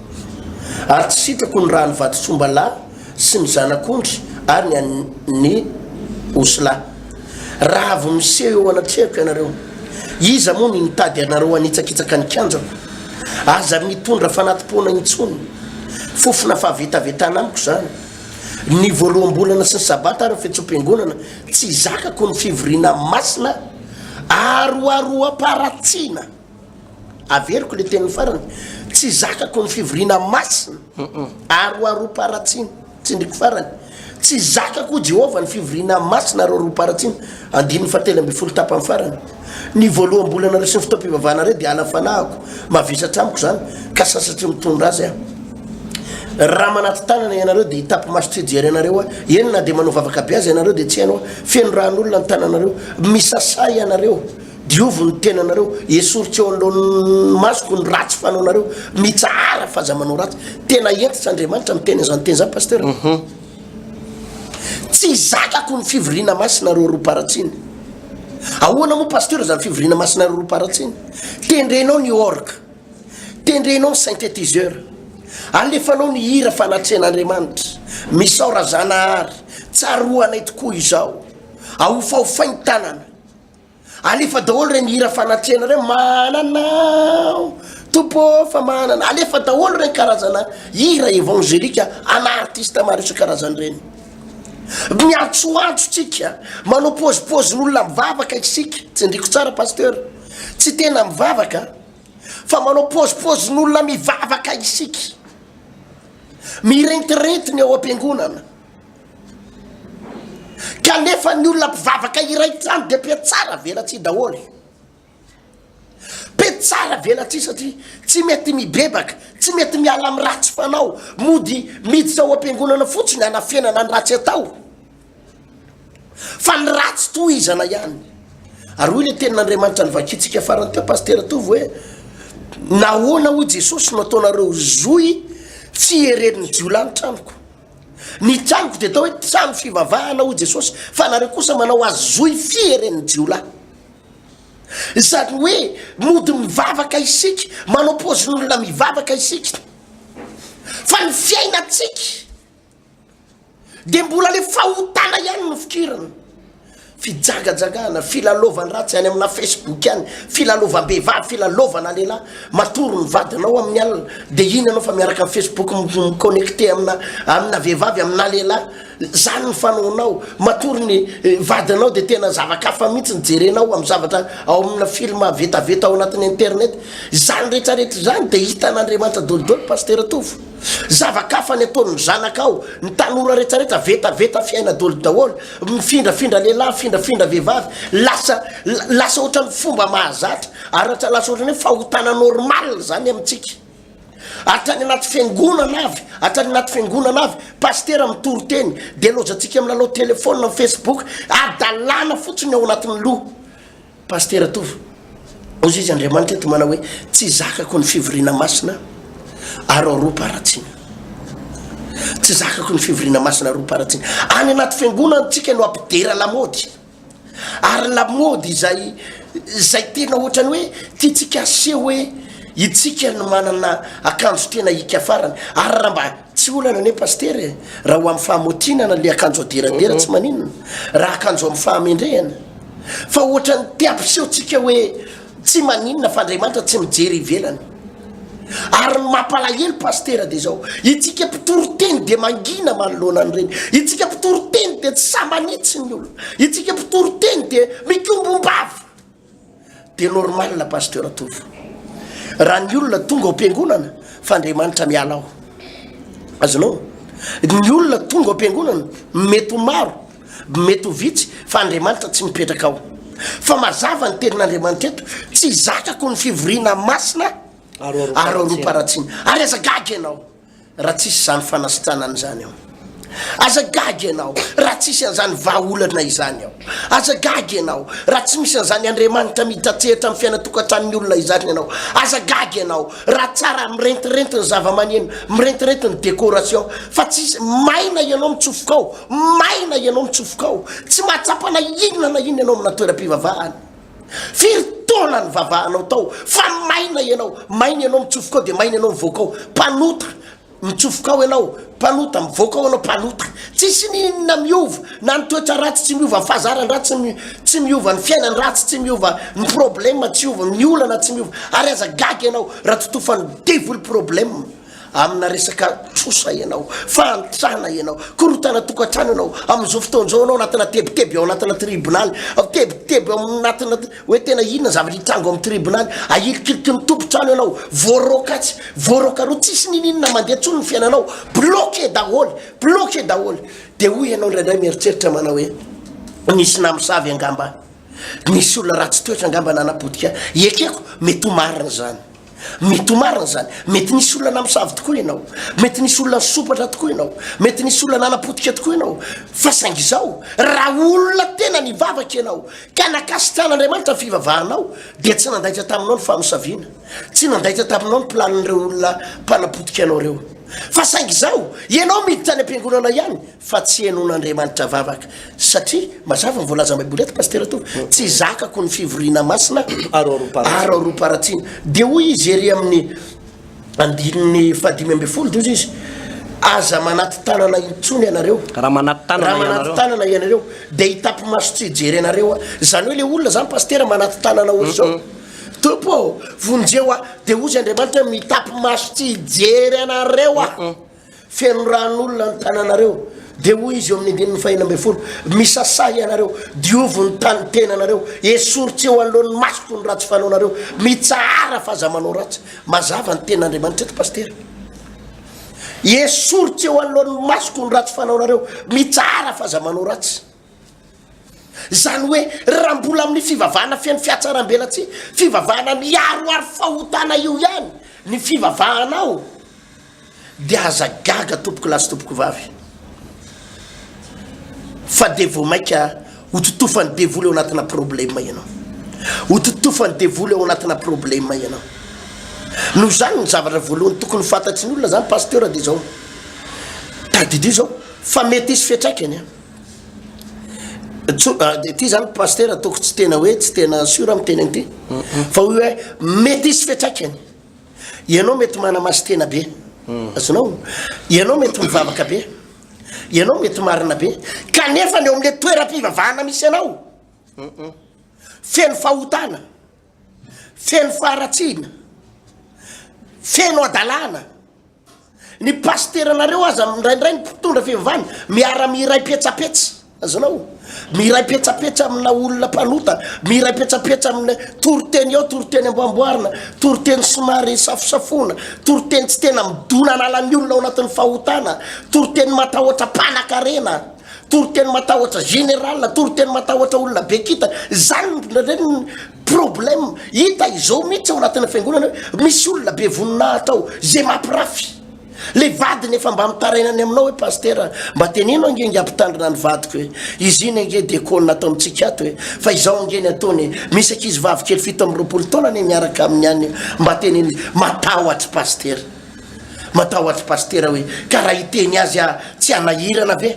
Ary tsy sitrako ny ràn'ny vadin-tsombalahy sy ny zanak'ondry ary ny an'ny osilahy. Raha avy miseho eo anatrehako ianareo, iza moa ny nitady anareo hanitsakitsaka ny kianjako? Aza mitondra fanati-poana intsony. Fofona fahavetavetana amiko izany. Ny Voaloham-bolana sy ny Sabata ary ny fihetseham-piangonana, tsy zakako ny fivoriana masina aroaroam-paharatsiana. Averiko le teniny farany, tsy zakako ny fivoriana masina ary roaroam-paharatsiny. Tsindriko farany, Tsy zakako, hoy Jehovah, ny fivoriana masina ary roaroam-paharatsiny. Andininy fahatelo ambin'ny folo tapany farany, Ny voaloham-bolanareo sy ny fotoam-pivavahanareo dia ala fanahiko, mavesatra amiko izany, ka sasatry ny mitondra azy aho. Raha manaty tanana ianareo, dia hitapi-maso tsy hijery anareo aho, eny, na dia manao vavaka be aza ianareo, dia tsy haino aho. Feno ran'olona ny tananareo, misasà ianareo. Diovy ny tenanareo, esory tsy eo anoloan'ny masoko ny ratsy fanaonareo, mitsahara f'aza manao ratsy. Tena hentitra Andriamanitra miteny an'izany teny izany Pasteur. Tsy zakako ny fivoriana masina roaroam-paratsiny. Ahoana moa Pasteur izany fivoriana masina roaroam-paratsiny? Tendrenao ny orgue, tendrenao ny synthétiseur, alefanao ny hira fanatrehan'Andriamanitra, misaora Zanahary, tsaroanay tokoa izao, ahofahofainy tanana. Alefa daholo reny hira fanatrehana reny, mahana anao Tompo ô fa mahana anao. Alefa daholo reny karazana hira évangélika ana artiste maro isan-karazany reny. Miantsoantso tsika, manao pozipozin'olona mivavaka isika, tsindriko tsara pasteur, tsy tena mivavaka fa manao pozipozin'olona mivavaka isika. Mirentirenty ny ao am-piangonana. Kanefa ny olona mpivavaka iray trano dia mpiatsara velatsihy daholo. Mpiatsara velatsihy satria tsy mety mibebaka, tsy mety miala amin'ny ratsy fanao, mody miditra ao am-piangonana fotsiny hanafenana ny ratsy atao. Fa ny ratsy tohizana ihany. Ary hoy ilay tenin'Andriamanitra novakintsika farany teo Pasitera Tovo hoe nahoana hoy Jesosy no ataonareo zohy tsy hererin'ny jiolahy ny tranoko. Ny tranoko dia atao hoe trano fivavahana, hoy Jesosy, fa nareo kosa manao azy zohy fieren'ny jiolahy. Izany hoe mody mivavaka isika, manao paozin'olona mivavaka isika, fa ny fiainantsika dia mbola ilay fahotana ihany no fikirana. fijagajagana, filalaovan-dratsy any amina Facebook any, filalaovam-behivavy, filalaovana lehilahy, matory ny vadinao amin'ny alina, dia iny ianao fa miaraka amin'ny Facebook mi-connecter amina amina vehivavy, amina lehilahy, izany ny fanaonao, matory ny eh, vadinao dia tena zava-kafa mihitsy ny jerenao amin'ny zavatra ao amina film vetaveta ao anatin'ny internet, izany rehetrarehetra izany dia hitan'Andriamanitra dolidoly, Pasitera Tovo. Zava-kafa ny ataon'ny zanakao, ny tanora retraretra vetaveta fiaina doly daholo, mifindrafindra lehilahy, mifindrafindra vehivavy, lasa lasa ohatran'ny fomba mahazatra, aratra lasa ohatran'ny hoe fahotana normal zany amintsika. Hatrany anaty fiangonana avy, hatrany anaty fiangonana avy, pasitera mitory teny, dia lozatsika milalao telefona, mi-facebook, hadalana fotsiny ao anatin'ny loha. Pasitera Tovo, hoy izy, Andriamanitra eto manao hoe, Tsy zakako ny fivoriana masina aroaroam-paharatsiana. Tsy zakako ny fivoriana masina aroaroam-paharatsiana. Any anaty fiangonana antsika no ampidera lamaody. Ary lamaody izay izay tena ohatrany hoe tiantsika aseho hoe itsika no manana akanjo tena hika farany. Ary raha mba Tsy olana anie Pasitera e, raha ho amin'ny fahamotinana le akanjo aderadera tsy maninona, raha akanjo amin'ny fahamendrehana. Fa ohatran'ny te ampiseho tsika hoe tsy maninona fa Andriamanitra tsy mijery ivelany. Ary ny mampalahelo Pasitera de zao, itsika mpitory teny de mangina manoloana an'ireny, itsika mpitory teny de tsy sahy manitsy ny olona, itsika mpitory teny de mikombombava. Dia normal pasteur Tovo raha ny olona tonga ao am-piangonana fa Andriamanitra miala ao. Azonao? Ny olona tonga ao am-piangonana mety ho maro, mety ho vitsy fa Andriamanitra tsy mipetraka ao. Fa mazava ny tenin'Andriamanitra eto, tsy zakako ny fivoriana masina aroaroam-paharatsiana. Ary aza gaga ianao. raha tsisy izany fanasitranana izany ao. Aza gaga ianao raha tsisy an'izany vahaolana izany ao. Aza gaga ianao raha tsy misy an'izany Andriamanitra mihitratsehatra amin'ny fiainantokantranon'ny olona izany ianao. Aza gaga ianao raha tsara mirentirenty ny zavamaneno, mirentirenty ny décoration, fa tsisy maina ianao mitsofoka ao, maina ianao mitsofoka ao. Tsy mahatsapa na inona na inona ianao amina toeram-pivavahana. Firy taona nivavahanao tao fa maina ianao, maina ianao mitsofoka ao dia maina ianao mivoaka ao, mpanota, mitsofoka ao ianao, mpanota, mivoaka ao ianao, mpanota. Tsisy ny inona miova, na ny toetra ratsy tsy miova, ny fahazaran-dratsy tsy miova, ny fiainan-dratsy tsy miova, ny problème tsy miova, ny olana tsy miova, ary aza gaga ianao raha totofan'ny devoly problème. Amina resaka trosa ianao, fahantrana ianao, korontana tokantrano ianao, amin'izao fotoana izao ianao anatina tebiteby ao anatina tribonaly, tebiteby ao anatina hoe tena inona ny zavatra hitrango amin'ny tribonaly, ahilikiliky ny tompon-trano ianao, voaroaka atsy, voaroaka aroa, tsisy ninininona mandeha intsony ny fiainanao, bloqué daholo, bloqué daholo. Dia hoy ianao indraindray mieritreritra manao hoe nisy namosavy angamba, nisy olona ratsy toetra angamba nanapotika, ekeko mety ho marina izany. Mety ho marina izany. Mety nisy olona namosavy tokoa ianao. Mety nisy olona nisompatra tokoa ianao. Mety nisy olona nanapotika tokoa ianao. Fa saingy izao, raha olona tena nivavaka ianao, ka nakasitrahan'Andriamanitra ny fivavahanao, dia tsy nandaitra taminao ny famosaviana. Tsy nandaitra taminao ny planin'ireo olona mpanapotika anao ireo. Fa saingy izao, ianao miditra any am-piangonana ihany, fa tsy henoan'Andriamanitra vavaka satria mazava ny voalazan'ny baiboly eto Pasitera Tovo, tsy zakako ny fivoriana masina aroaroam-paharatsiana, dia hoy izy ery amin'ny andininy fahadimy ambin'ny folo dia hoy izy aza manaty tanana intsony ianareo raha manaty tanana ianareo dia hitapi-maso tsy hijery anareo aho, izany hoe ilay olona izany Pasitera manaty tanana ohatr'izao Tompo ô vonjeo aho dia hozy Andriamanitra mitapy maso tsy hijery anareo aho. Feno rano olona ny tananareo, dia hoy izy eo amin'ny andininy fahina ambin'ny folo, Misasà ianareo, diovy ny tany tenanareo, esory tsy eo anoloan'ny masoko ny ratsy fanaonareo, mitsahara fa aza manao ratsy. Mazava ny tenin'Andriamanitra eto Pasitera. Esory tsy eo anoloan'ny masoko ny ratsy fanaonareo, mitsahara fa aza manao ratsy. Izany hoe raha mbola amin'ny fivavahana feno fihatsarambelatsihy, fivavahana miaroaro fahotana io ihany ny fivavahanao dia aza gaga tompokolahy sy tompokovavy fa dia vao mainka hototofan'ny devoly ao anatina problema ianao. Hototofan'ny devoly ao anatina problema ianao. Noho izany ny zavatra voalohany tokony fantatry ny olona izany pasteur dia izao. Tadidio izao fa mety hisy fiantraikany. ty zany pasteur ataoko tsy tena hoe tsy tena sur am teny an'ity fa hoe mety hisy fiatraikany ianao mety manamaso tena be azonao ianao mety mivavaka be ianao mety marina be kanefa ny eo amle toeram-pivavahana misy anao feno fahotana feno faharatsiana feno adalàna Ny pasiteranareo aza indraindray ny mpitondra fivavahana miara miray petsapetsa, azonao? Miray petsapetsa amina olona mpanota, miray petsapetsa amina toriteny eo, toriteny amboamboarina, toriteny somary safosafoana, toriteny tsy tena midona analan'ny olona ao anatin'ny fahotana, toriteny matahotra mpanakarena, toriteny matahotra général, toriteny matahotra olona be kintana, izany indraindray ny Problème hita izao mihitsy ao anatin'ny fiangonana hoe misy olona be voninahitra ao izay mampirafy. Le vadiny efa mba mitaraina any aminao hoe pasitera mba teneno ange nge ampitandrina ny vadiko e. Izy iny ange dia kôna ato amintsika ato e. Fa izao ange ny ataony e. Misy ankizy vavy kely fito amby roapolo taona anie miaraka aminy any mba teneno izy. Matahotra pasitera. Matahotra pasitera hoe ka raha hiteny azy aho tsy hanahirana ve?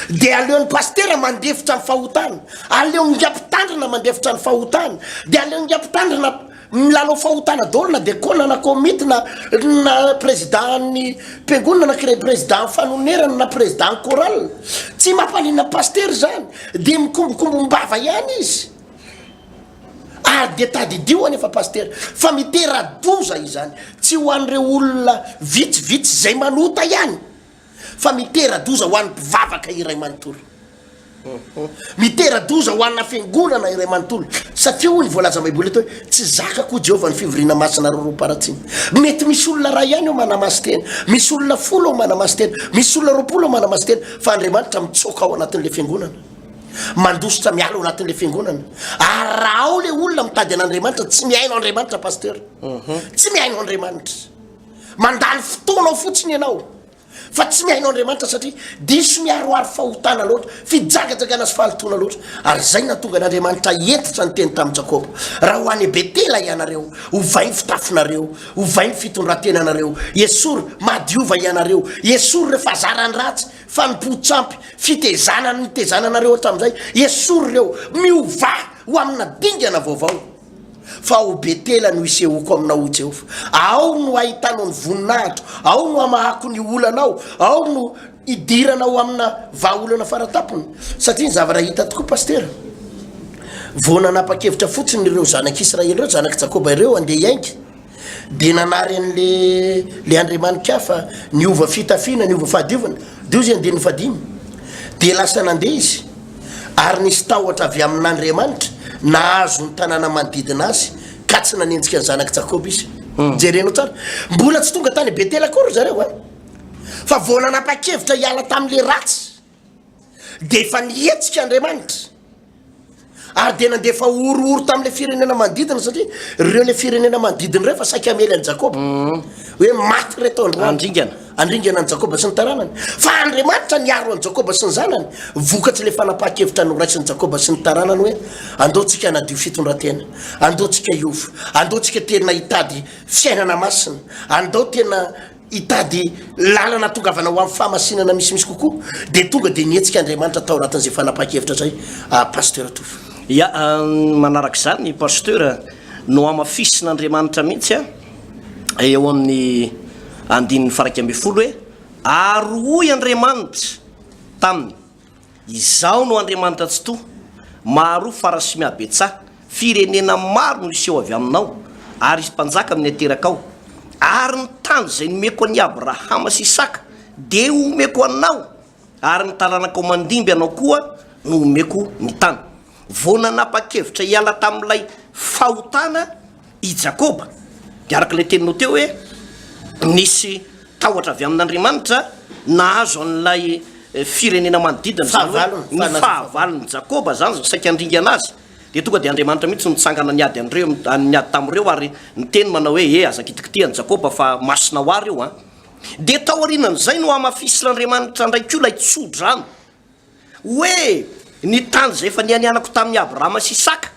Dia aleon'ny pasitera mandefitra ny fahotana, aleon'ingahy mpitandrina mandefitra ny fahotana, dia aleon'ingahy mpitandrina milalao fahotana daholo na dekona na komity na na prezidan'ny mpiangonana na kre prezidan'ny fanonerana na prezidan'ny chorale. Tsy mampaninona ny pasitera izany, dia mikombokombom-bava ihany izy. Ary dia tadidio anefa pasitera fa mitera-doza izany, tsy ho an'ireo olona vitsivitsy izay manota ihany, fa mitera-doza ho an'ny mpivavaka iray manontolo. Mitera-doza ho ana fiangonana iray manontolo, satria hoy ny voalazan'ny Baiboly eto hoe tsy zakako hoy Jehovah ny fivoriana masina roroam-paharatsiny. Mety misy olona iray ihany eo manamasin-tena, misy olona folo eo manamasin-tena, misy olona roapolo eo manamasin-tena, fa Andriamanitra mitsoaka ao anatin'ilay fiangonana, mandositra miala ao anatin'ilay fiangonana. Ary raha ao ilay olona mitady an'Andriamanitra, tsy mihaino Andriamanitra, Pasteur. Tsy mihaino Andriamanitra. Mandany fotoanao fotsiny ianao fa tsy mihaino Andriamanitra satria diso miharoharo fahotana loatra, fijagajagana sy fahalotoana loatra. Ary izay no nahatonga an'Andriamanitra hihentitra ny teny tamin'i Jakoba, Raha ho any Betela ianareo, ovay ny fitafinareo, ovay ny fitondran-tenanareo, esory, mahadiova ianareo, esory ireo fahazarany ratsy, fanompoan-tsampy, fitezana nitezananareo hatramin'izay, esory ireo, miovà ho amina dingana vaovao. Fa ao Betela no isehoako aminao, O Jehovah. Ao no ahitanao ny voninahitro, ao no hamahako ny olanao, ao no idiranao amina vahaolana faratampony. Satria ny zavatra hita tokoa, Pasitera, vao nanapa-kevitra fotsiny ireo zanak'Israely ireo, zanak'i Jakoba ireo, handeha hiainga, dia nanary an'le le andriamanikafa niova fitafiana niova fahadiovana deo zay andininy fadimy dia lasa nandeha izy ary nisy tahotra avy amin'andriamanitra nahazo ny tanàna manodidina azy ka tsy nanenjika ny zanak'i jakoba izy hmm. jerenao tsara mbola tsy tonga tany betela koa ry zareo a fa vao nanapa-kevitra hiala tamin'le ratsy dia efa nihetsika Andriamanitra ary dia nandefa horohoro tamin'ilay firenena manodidina satria ireo ilay firenena manodidina ireo efa saika hamely an'i Jakoba mhm. hoe maty reto androany andringana andringana an'i Jakoba sy ny taranany fa Andriamanitra niaro an'i Jakoba sy ny zanany vokatry ilay fanapahan-kevitra noraisin'i Jakoba sy ny taranany hoe andeontsika anadio fitondran-tena andeontsika hiova andeontsika tena hitady fiainana masina andeo tena hitady lalana atongavana ho amin'ny fahamasinana misimisy kokoa dia tonga dia nihetsika Andriamanitra tao anatin'izay fanapahan-kevitra izay Pasteur Tovo. Ia, manaraka izany Pasteur, nohamafisin'Andriamanitra mihitsy eo amin'ny andininy faraika ambin'ny folo hoe, Ary hoy Andriamanitra taminy, Izaho no Andriamanitra Tsitoha, Maharoa fara sy Mihabetsaha, firenena maro no hiseho avy aminao, ary hisy mpanjaka amin'ny aterakao. Ary ny tany izay nomeko an'i Abrahama sy Isaka dia homeko anao, ary ny taranakao mandimby anao koa no homeko ny tany vao nanapa-kevitra hiala tamin'ilay fahotana, I Jakoba, dia araka ilay teninao teo hoe nisy tahotra avy amin'Andriamanitra nahazo an'ilay firenena manodidina, izany hoe ny fahavalon'i Jakoba izany no saika handringana azy, dia tonga dia Andriamanitra mihitsy no nitsangana niady an'ireo, niady tamin'ireo ary niteny manao hoe, Ee, aza kitikitiha an'i Jakoba fa masina ho ahy ireo an! Dia taorianan'izay no hamafisin'Andriamanitra indray koa ilay tso-drano hoe ny tany izay efa nianianako tamin'i Abrahama sy Isaka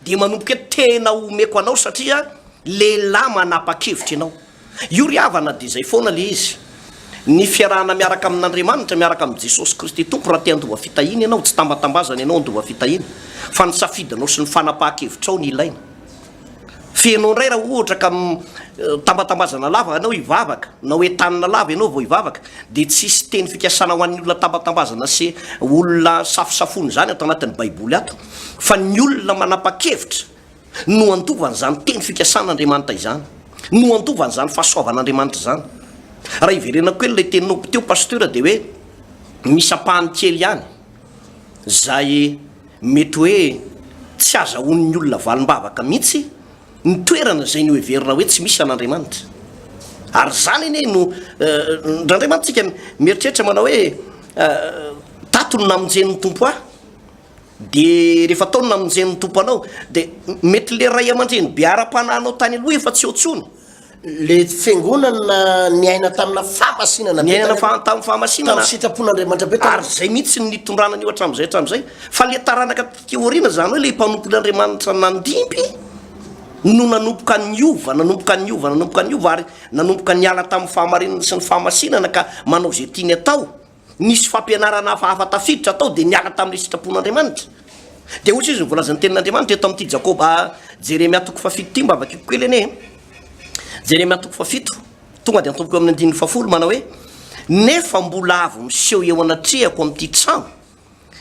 Dia manomboka eto tena omeko anao satria lehilahy manapa-kevitra ianao. Io ry havana dia izay foana ilay izy. Ny fiarahana miaraka amin'Andriamanitra, miaraka amin'i Jesosy Kristy Tompo raha te handova fitahiana ianao, tsy tambatambazana ianao handova fitahiana fa ny safidinao sy ny fanapahan-kevitrao no ilaina. Feno indray raha ohatra ka tambatambazana lava ianao hivavaka, na hoe tanana lava ianao vao hivavaka, dia tsy hisy teny fikasana ho an'ny olona tambatambazana sy olona safosafoina izany ato anatin'ny Baiboly ato. fa ny olona manapa-kevitra no handova an'izany teny fikasan'Andriamanitra izany, no handova an'izany fahasoavan'Andriamanitra izany. Raha hiverenako kely ilay teninao teo Pasteur dia hoe misy ampahany kely ihany izay mety hoe tsy azahoan'ny olona valim-bavaka mihitsy ny toerana izay noheverina hoe tsy misy an'Andriamanitra. Ary izany anie no ndraindray mantsika mieritreritra manao hoe tato no namonjen'ny Tompo ahy. Dia rehefa tao ny namonjeny ny Tompo anao, dia mety ilay ray aman-dreny be ara-panahinao tany aloha efa tsy eo intsony. Ilay fiangonana niaina tamina fahamasinana be. Niainana fa, tamin'ny fahamasinana. Tamin'ny sitrapon'Andriamanitra be. Ary izay mihitsy no nitondràna an'io hatramin'izay hatramin'izay. Fa ilay taranaka taty aoriana, izany hoe ilay mpanompon'Andriamanitra nandimby, no nanomboka niova, nanomboka niova, nanomboka niova, ary nanomboka niala tamin'ny fahamarinana sy ny fahamasinana ka manao izay tiany atao. Nisy fampianarana hafahafa tafiditra tao dia niala tamin'ilay sitrapon'Andriamanitra. Dia hoy izy, ny voalazan'ny tenin'Andriamanitra eto amin'ity Jakoba, Jeremia toko fahafito ity, mba vakiko kely anie e. Jeremia toko fahafito, tonga dia antompiko amin'ny andininy fahafolo, manao hoe, Nefa mbola avy miseho eo anatrehako amin'ity trano,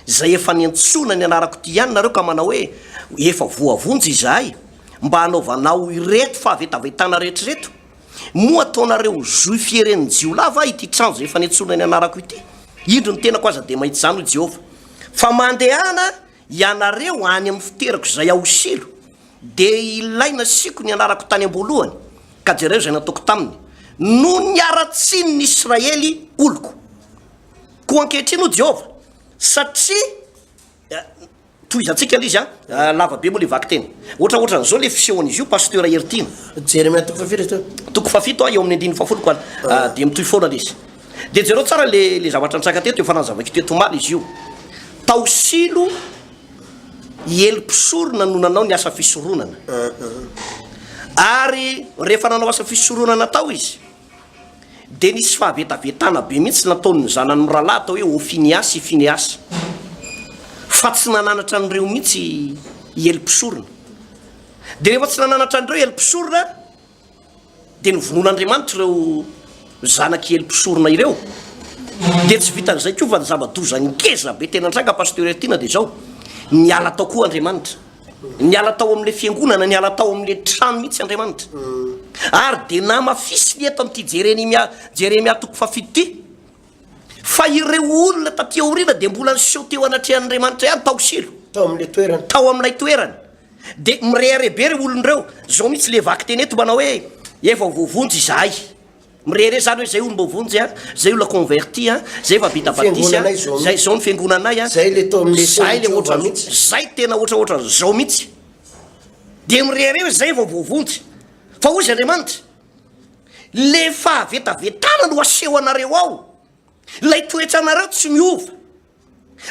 izay efa niantsoana ny anarako ity ihany nareo ka manao hoe, Efa voavonjy izahay, mba hanaovanao ireto fahavetavetana rehetra ireto. Moa ataonareo joy fieren'ny jiolahy va ity trano izay efa nentsorina ny anarako ity? Indro ny tenako aza dia mahita izany, hoy Jehovah. Fa mandehana ianareo any amin'ny fiterako izay ao Silo, dia ilay nasiako ny anarako tany am-boalohany, ka jereo izay nataoko taminy, noho ny haratsian'ny Israely oloko. Koa ankehitriny, hoy Jehovah, satria eh, Tohizantsika le izy a! Lava be moa le vaky teny. Ohatra ohatran'izao le fisehon'izy io Pasteur Heritiana. Jeremia toko fahafiry izy teo? Toko fahafito eo amin'ny andininy fahafolo koa dia mitohy foana le izy. Dia jereo tsara le le zavatra nitranga teto efa nanazavako teto omaly izy io. Tao Silo i Ely mpisorona no nanao ny asa fisoronana. Ary rehefa nanao asa fisoronana tao izy. dia nisy fahavetavetana be mihitsy nataon'ny zanany mirahalahy atao hoe Hofiniasy i Fineasy, fa tsy nananatra an'ireo mihitsy i Ely mpisorona. Dia rehefa tsy nananatra an'ireo Ely mpisorona, dia novonoin'Andriamanitra ireo zanak'i Ely mpisorona ireo. Dia tsy vitan'izay koa fa ny zava-doza ngeza be tena nitranga, Pasteur Hertine, dia izao, niala tao koa Andriamanitra. Niala tao amin'ilay fiangonana, niala tao amin'ilay trano mihitsy Andriamanitra. Ary dia namafisiny eto amin'ity Jeremia, Jeremia toko fahafito ity, fa ireo olona taty aoriana dia mbola niseho teo anatrehan'Andriamanitra ihany tao Silo. Tao amin'ilay toerana. Tao amin'ilay toerana. Dia mirehareha be ireo olona ireo. Izao mihitsy ilay vakiteny eto manao hoe, Efa ho voavonjy izahay. Mirehareha zany hoe zay olo mbô vonjy a, zay ola converti a, zay efa vita batisa a, zay zao ny fiangonanay a, zay le ohatran'zao, zay tena ohatraohatran'zao mihitsy, de mirehareha hoe zay vao voavonjy, fa hoy izy Andriamanitra, le fahavetavetana no aseho anareo ao, lay toetranareo tsy miova,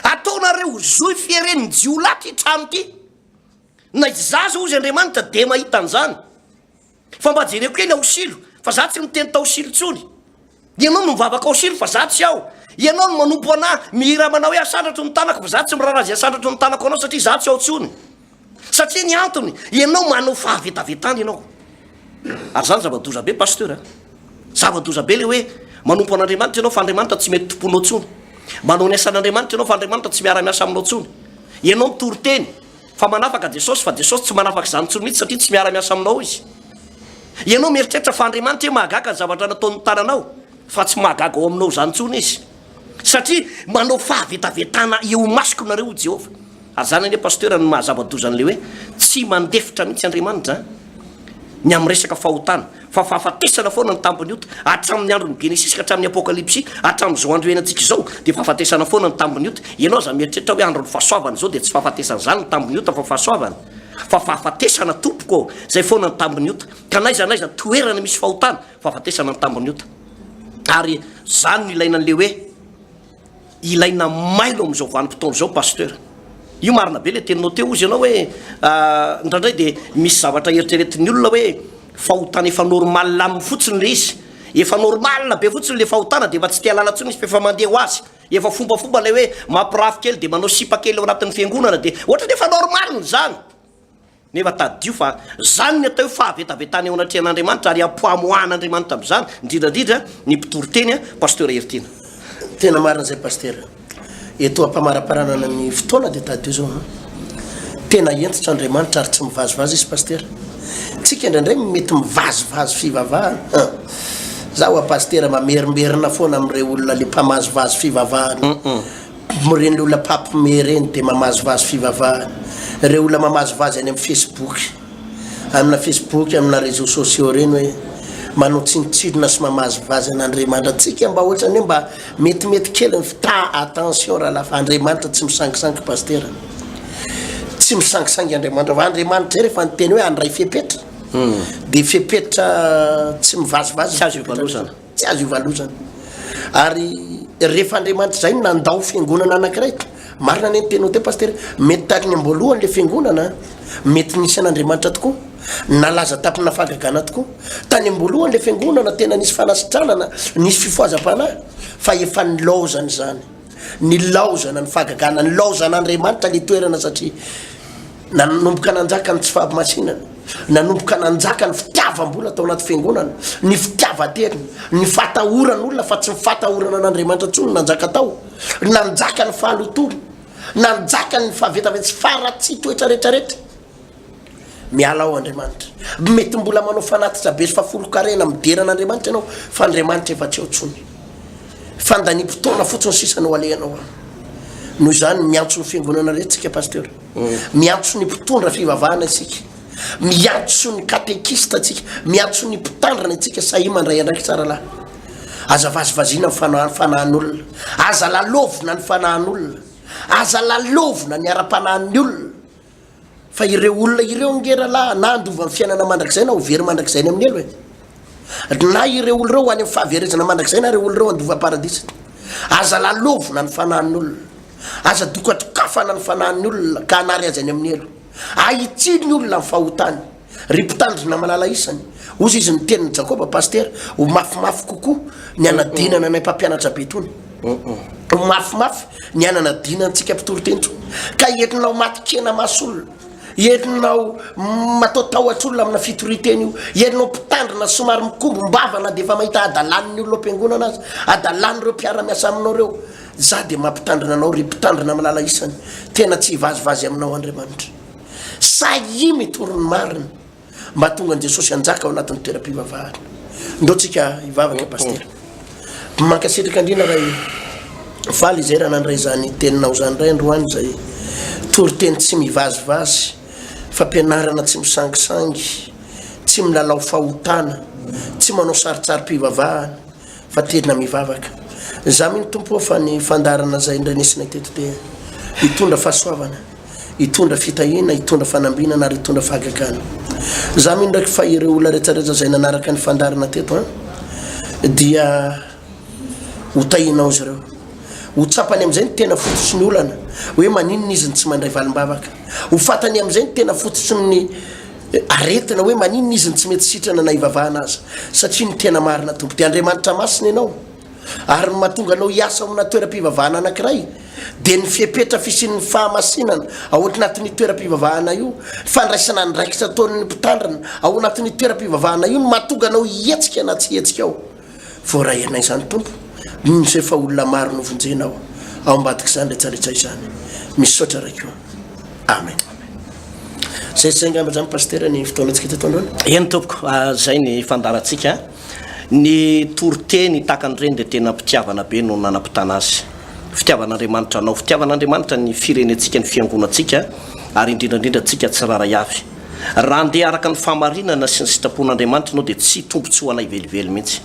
ataonareo ho zohy fieren'ny jiolahy ty trano ty, na izaho zao hoy izy Andriamanitra de mahita an'zany. Fa mba jereo kely ao silo fa za tsy miteny tao silo tsony ianao no mivavaka ao silo fa za tsy ao ianao no manompo ana mihira manao hoe asandratro ny tanako fa za tsy mirara zay asandratro ny tanako anao satria za tsy ao tsony satria ny antony ianao manao fahavetavetana ianao ary zany zava-doza be pasteur a zava-doza be le hoe manompo an'andriamanitra ianao fa andriamanitra tsy mety tomponao tsony manao ny asan'andriamanitra ianao fa andriamanitra tsy miara-miasa aminao tsony ianao mitory teny fa manafaka Jesosy fa Jesosy tsy manafaka izany intsony mihitsy satria tsy miara miasa aminao izy. Ianao mieritreritra fa Andriamanitra hoe mahagaga ny zavatra nataon'ny tananao fa tsy mahagaga ao aminao izany intsony izy. Satria manao fahavetavetana eo imasoko nareo ho Jehovah. Ary izany anie pasteur no mahazava-doza an'ilay hoe tsy mandefitra mihitsy Andriamanitra ny amin'ny resaka fahotana. fa fahafatesana foana ny tambin'ny ota, hatramin'ny andron'ny Genesisy ka hatramin'ny Apokalypsy, hatramin'izao andro iainantsika izao dia fahafatesana foana ny tambin'ny ota, ianao aza mieritreritra hoe andron'ny fahasoavana izao dia tsy fahafatesana izany ny tambin'ny ota fa fahasoavana? fa fahafatesana tompoko ô, izay foana ny tambin'ny ota, ka n'aiza n'aiza toerana misy fahotana, fahafatesana ny tambin'ny ota, ary izany no ilaina an'ilay hoe. Ilaina mailo amin'izao vanim-potoana izao Pasteur. Io marina be ilay teninao teo ozy ianao hoe indraindray dia misy zavatra eritreretin'ny olona hoe fahotana efa normal aminy fotsiny ilay izy. Efa normal be fotsiny ilay fahotana dia efa tsy te halala intsony izy fa efa mandeha ho azy. Efa fombafomba ilay hoe mampirafy kely dia manao sipa kely ao anatin'ny fiangonana dia ohatran'ny efa normal izany. Nefa tadidio fa izany ny atao hoe fahavetavetana eo anatrehan'Andriamanitra ary ampohamoahan'Andriamanitra amin'izany, indrindra indrindra ny mpitoriteny, Pasteur Heritiana. Tena marina izay Pasitera. Eto ampamaraparanana ny fotoana dia tadidio izao an! Tena hentitra Andriamanitra ary tsy mivazivazy Izy Pasitera. Tsika indraindray no mety mivazivazy fivavahana an! Za ho'a Pasitera mamerimberina foana amin'ireo olona le mpamazivazy fivavahana. Ireny olona mpampme ireny dia mamazivazy fivavahana. Ireo olona mamazivazy any amin'ny Facebook, amina Facebook, amina réseaux sociaux ireny hoe manao tsinontsinona sy mamazivazy an'Andriamanitra. Tsika mba ohatrany hoe mba metimety kely ny fta attention raha lafa Andriamanitra tsy misangisangy Pasitera. Tsy misangisangy Andriamanitra fa Andriamanitra izay rehefa niteny hoe handray fepetra dia fepetra tsy mivazivazy ny fepetra. Tsy azo ivalozana. Ary rehefa Andriamanitra izay no nandao fiangonana anankiray, marina ny nitenao teo Pasitera, mety tamin'ny amboalohany ilay fiangonana, mety nisy an'Andriamanitra tokoa, nalaza taminà fahagagana tokoa. Tany amboalohany ilay fiangonana tena nisy fanasitranana, nisy fifohazam-panahy, fa efa nilaozana izany. Nilaozana ny fahagagana, nilaozan'Andriamanitra ilay toerana satria nanomboka nanjaka ny tsy fahamasinana, nanomboka nanjaka ny fitiavam-bola tao anaty fiangonana, ny fitiavan-terina, ny fatahoran'olona fa tsy ny fatahorana an'Andriamanitra intsony nanjaka tao, nanjaka ny fahalotoana, nanjaka ny fahavetavety sy faharatsian-toetra rehetra rehetra. Miala ao Andriamanitra. Mety mbola manao fanatitra be sy fafolonkarena midera an'Andriamanitra ianao fa Andriamanitra efa tsy eo intsony. Fandaniam-potoana fotsiny sisa no alehanao aminy. Noho izany, miantso ny fiangonana rehetra isika Pasteur. Miantso ny mpitondra fivavahana isika. Miantso ny katekista isika. Miantso ny mpitandrina isika sahia mandray andraikitra ara-lahy. Aza vazivaziana ny fanahy, fanahin'olona. Aza lalovina ny fanahin'olona. Aza lalovina ny ara-panahin'ny olona. Fa ireo olona ireo ange rahalahy na handova ny fiainana mandrakizay na ho very mandrakizay any amin'ny helo e. Na ireo olona ireo ho any amin'ny fahaverezana mandrakizay na ireo olona ireo handova paradisa. Aza lalovina ny fanahin'ny olona. Aza dokadokafana ny fanahin'ny olona ka hanary azy any amin'ny helo. Ahitsy ny olona ny fahotany. Ry mpitandrina malala isany, hozy izy ny tenin'i Jakoba, Pasitera, ho mafimafy kokoa ny hanadinana anay mpampianatra be itony. Ho mafimafy ny hananadina antsika mpitory teny itony. Ka entinao matin-kena maso olona, entinao mataotahotra olona amina fitorian-teny io, entinao mpitandrina somary mikombom-bava na dia efa mahita hadalan'ny olona ao am-piangonana aza, hadalan'ireo mpiara-miasa aminao ireo. Izaho dia mampitandrina anao, ry mpitandrina malala isany. Tena tsy hivazivazy aminao Andriamanitra. Sahia mitory ny marina mba hahatonga an'i Jesosy hanjaka ao anatin'ny toeram-pivavahana. Ndao tsika hivavaka Pasitera. Mankasitraka indrindra Ray e. Faly izay raha nandray izany teninao izany Ray androany izay toriteny tsy mivazivazy, fampianarana tsy misangisangy, tsy milalao fahotana, tsy manao sarintsarim-pivavahana, fa tena mivavaka za mino tompo ô fa ny fandaharana zay indray nesinay teto dia hitondra fahasoavana hitondra fitahiana hitondra fanambinana ary hitondra fahagagana za mino ndraiky fa ireo olona rehetrarehetra zay nanaraka ny fandaharana teto a dia ho tahinao izy ireo ho tsapany am'izay ny tena fototry ny olana hoe maninona izy ny tsy mandray valimbavaka ho fatany am'izay ny tena fototry ny Aretina hoe maninona izy no tsy mety sitrana na hivavahana aza, satria ny tena marina Tompo dia Andriamanitra Masina ianao, ary ny mahatonga anao hiasa ao amina toeram-pivavahana anankiray dia ny fepetra fisian'ny fahamasinana ao anatin'io toeram-pivavahana io, fandraisana andraikitra ataon'ny mpitandrina ao anatin'io toeram-pivavahana io no mahatonga anao hihetsika na tsy hihetsika ao. Voarahianay izany Tompo, noho izay efa olona maro novonjenao ao ambadik'izany retraretra izany. Misaotra Ray koa. Amen. Zay zay angamba zany Pasteur ny fotoanantsika teto androany. Eny Tompoko, zay ny fandaharantsika. Ny toriteny tahaka an'ireny dia tena mpitiavana be no nanapitana azy. Fitiavan'Andriamanitra anao, fitiavan'Andriamanitra ny firenentsika, ny fiangonantsika ary indrindra indrindra antsika tsirairay avy. Raha handeha araka ny fahamarinana sy ny sitrapon'Andriamanitra ianao dia tsy tombontsoa anay velively mihitsy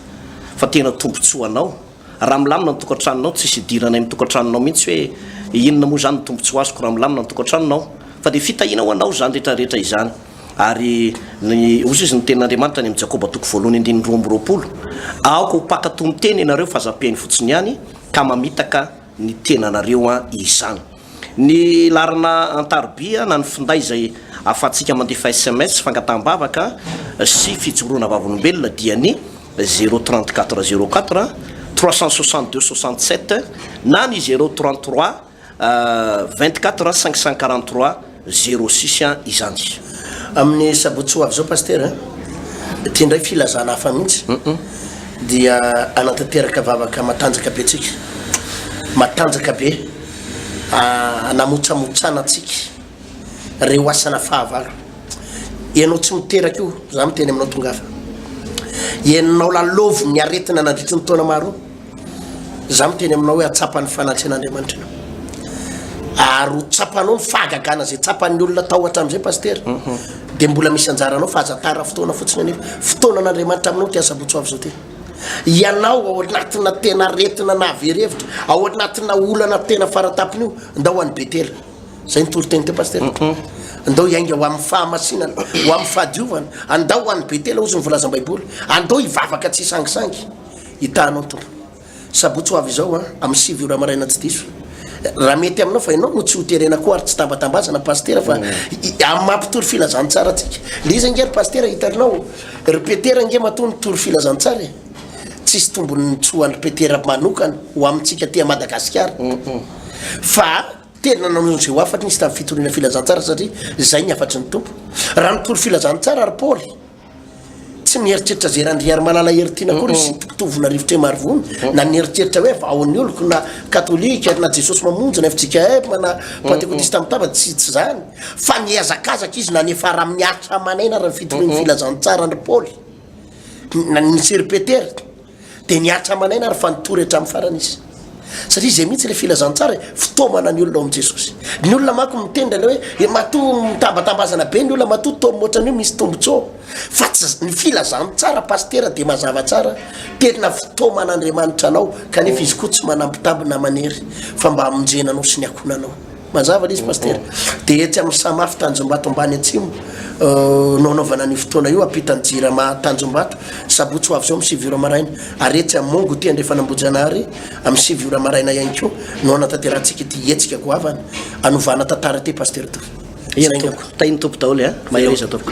fa tena tombontsoa anao. Raha milamina ny tokantranonao, tsisy idiranay ny tokantranonao mihitsy hoe inona moa izany ny tombontsoa azoko raha milamina ny tokantranonao. Fa dia fitahiana ho anao izany rehetra rehetra izany. Ary ny, hoy izy ny tenin'Andriamanitra any amin'ny Jakoba toko voalohany andininy roa amby roapolo, Aoka ho mpankatò ny teny ianareo fa zapeny fotsiny ihany ka mamitaka ny tenanareo an izany. Ny laharana antaroby na ny finday izay ahafahantsika mandefa sms, fangataham-bavaka sy fijoroana vavolombelona dia ny zéro trente quatre zéro quatre trois cent soixante deux soixante sept na ny zéro trente trois vingt quatre cinq cent quarante trois. Zero six an izany. Amin'ny sabotsy ho avy izao Pasitera an, ity indray filazana hafa mihitsy dia hanatanteraka vavaka matanjaka be antsika, matanjaka be hanamotsamotsana antsika ireo asana fahavalo. Ianao tsy miteraka io, izaho miteny aminao tongafa. Ianao lalaovin'ny aretina nandritry ny taona maro. Izaho miteny aminao hoe hatsapa ny fanatrehan'Andriamanitra ianao. Ary ho tsapanao ny fahagagana izay tsapan'ny olona tao hatramin'izay Pasitera. Mhm. Dia mbola misy anjaranao fa aza tara fotoana fotsiny anefa. Fotoanan'Andriamanitra aminao ity asabotsy ho avy izao ity. Ianao ao anatina tena aretina nahavery hevitra, ao anatina olana tena faratapony io, ndao ho any Betela. Izay ny toriteny teo Pasitera. Mhm. Ndao hiainga ho amin'ny fahamasinana, ho amin'ny fahadiovana. Andao ho any Betela hozy ny volazam-baiboly. Andao hivavaka tsy hisangisangy. Hitanao Tompo. Sabotsy ho avy izao an, amin'ny sivy ora maraina tsy diso. Raha mety aminao fa ianao no tsy ho terena koa ary tsy tambatambazana Pasitera fa amin'ny maha mpitory filazantsara antsika. Dia iza ange ry Pasitera hitanao? Ry Petera ange matoa nitory filazantsara e! Tsisy tombony tsy ho an-dry Petera manokana, ho amintsika aty Madagasikara. Fa tena nanao izay ho hafatry izy tamin'ny fitoriana filazantsara satria izay ny hafatry ny Tompo. Raha nitory filazantsara ry Paoly Tsy mieritreritra izay Randriarimalala Heritiana akory i Sitoko Tovona Rivotremarivono na nieritreritra hoe vahao ny oloko na katolika ary na Jesosy Mamonjy na fjkm na pantekotista mitava, tsy tsy izany fa nihazakazaka izy nanefara amin'ny aritra aman'aina ary ny fitorian'ny filazantsara an-dry Paoly na ny Seri-Petera. Dia niaritra aman'aina ary fa nitory hatramin'ny farany izy. Satria izay mihitsy ilay filazantsara e, fitaomana ny olona ao amin'i Jesosy. Ny olona manko miteny ilay hoe e, matoa mitambatambazana be ny olona, matoa toa mihoatra an'io misy tombontsoa. Fa tsy ny filazantsara pasitera dia mazava tsara, tena fitaoman'Andriamanitra anao, kanefa izy koa tsy manambitamby na manery fa mba hamonjena anao sy ny ankohonanao. Mazava le izy Pasitera. Dia etsy amin'ny Samafy Tanjombato ambany atsimo no hanaovana an'io fotoana io ampitan'ny Jirama Tanjombato, sabotsy ho avy izao amin'ny sivy ora maraina. Ary etsy amin'ny Mongo ity andrefana Ambohijanahary amin'ny sivy ora maraina ihany koa no hanatanterantsika ity hetsika goavana hanovana tantara ity Pasitera Toky. Saingako. Tahin'ny Tompo daholo e! Mahereza Tompoko.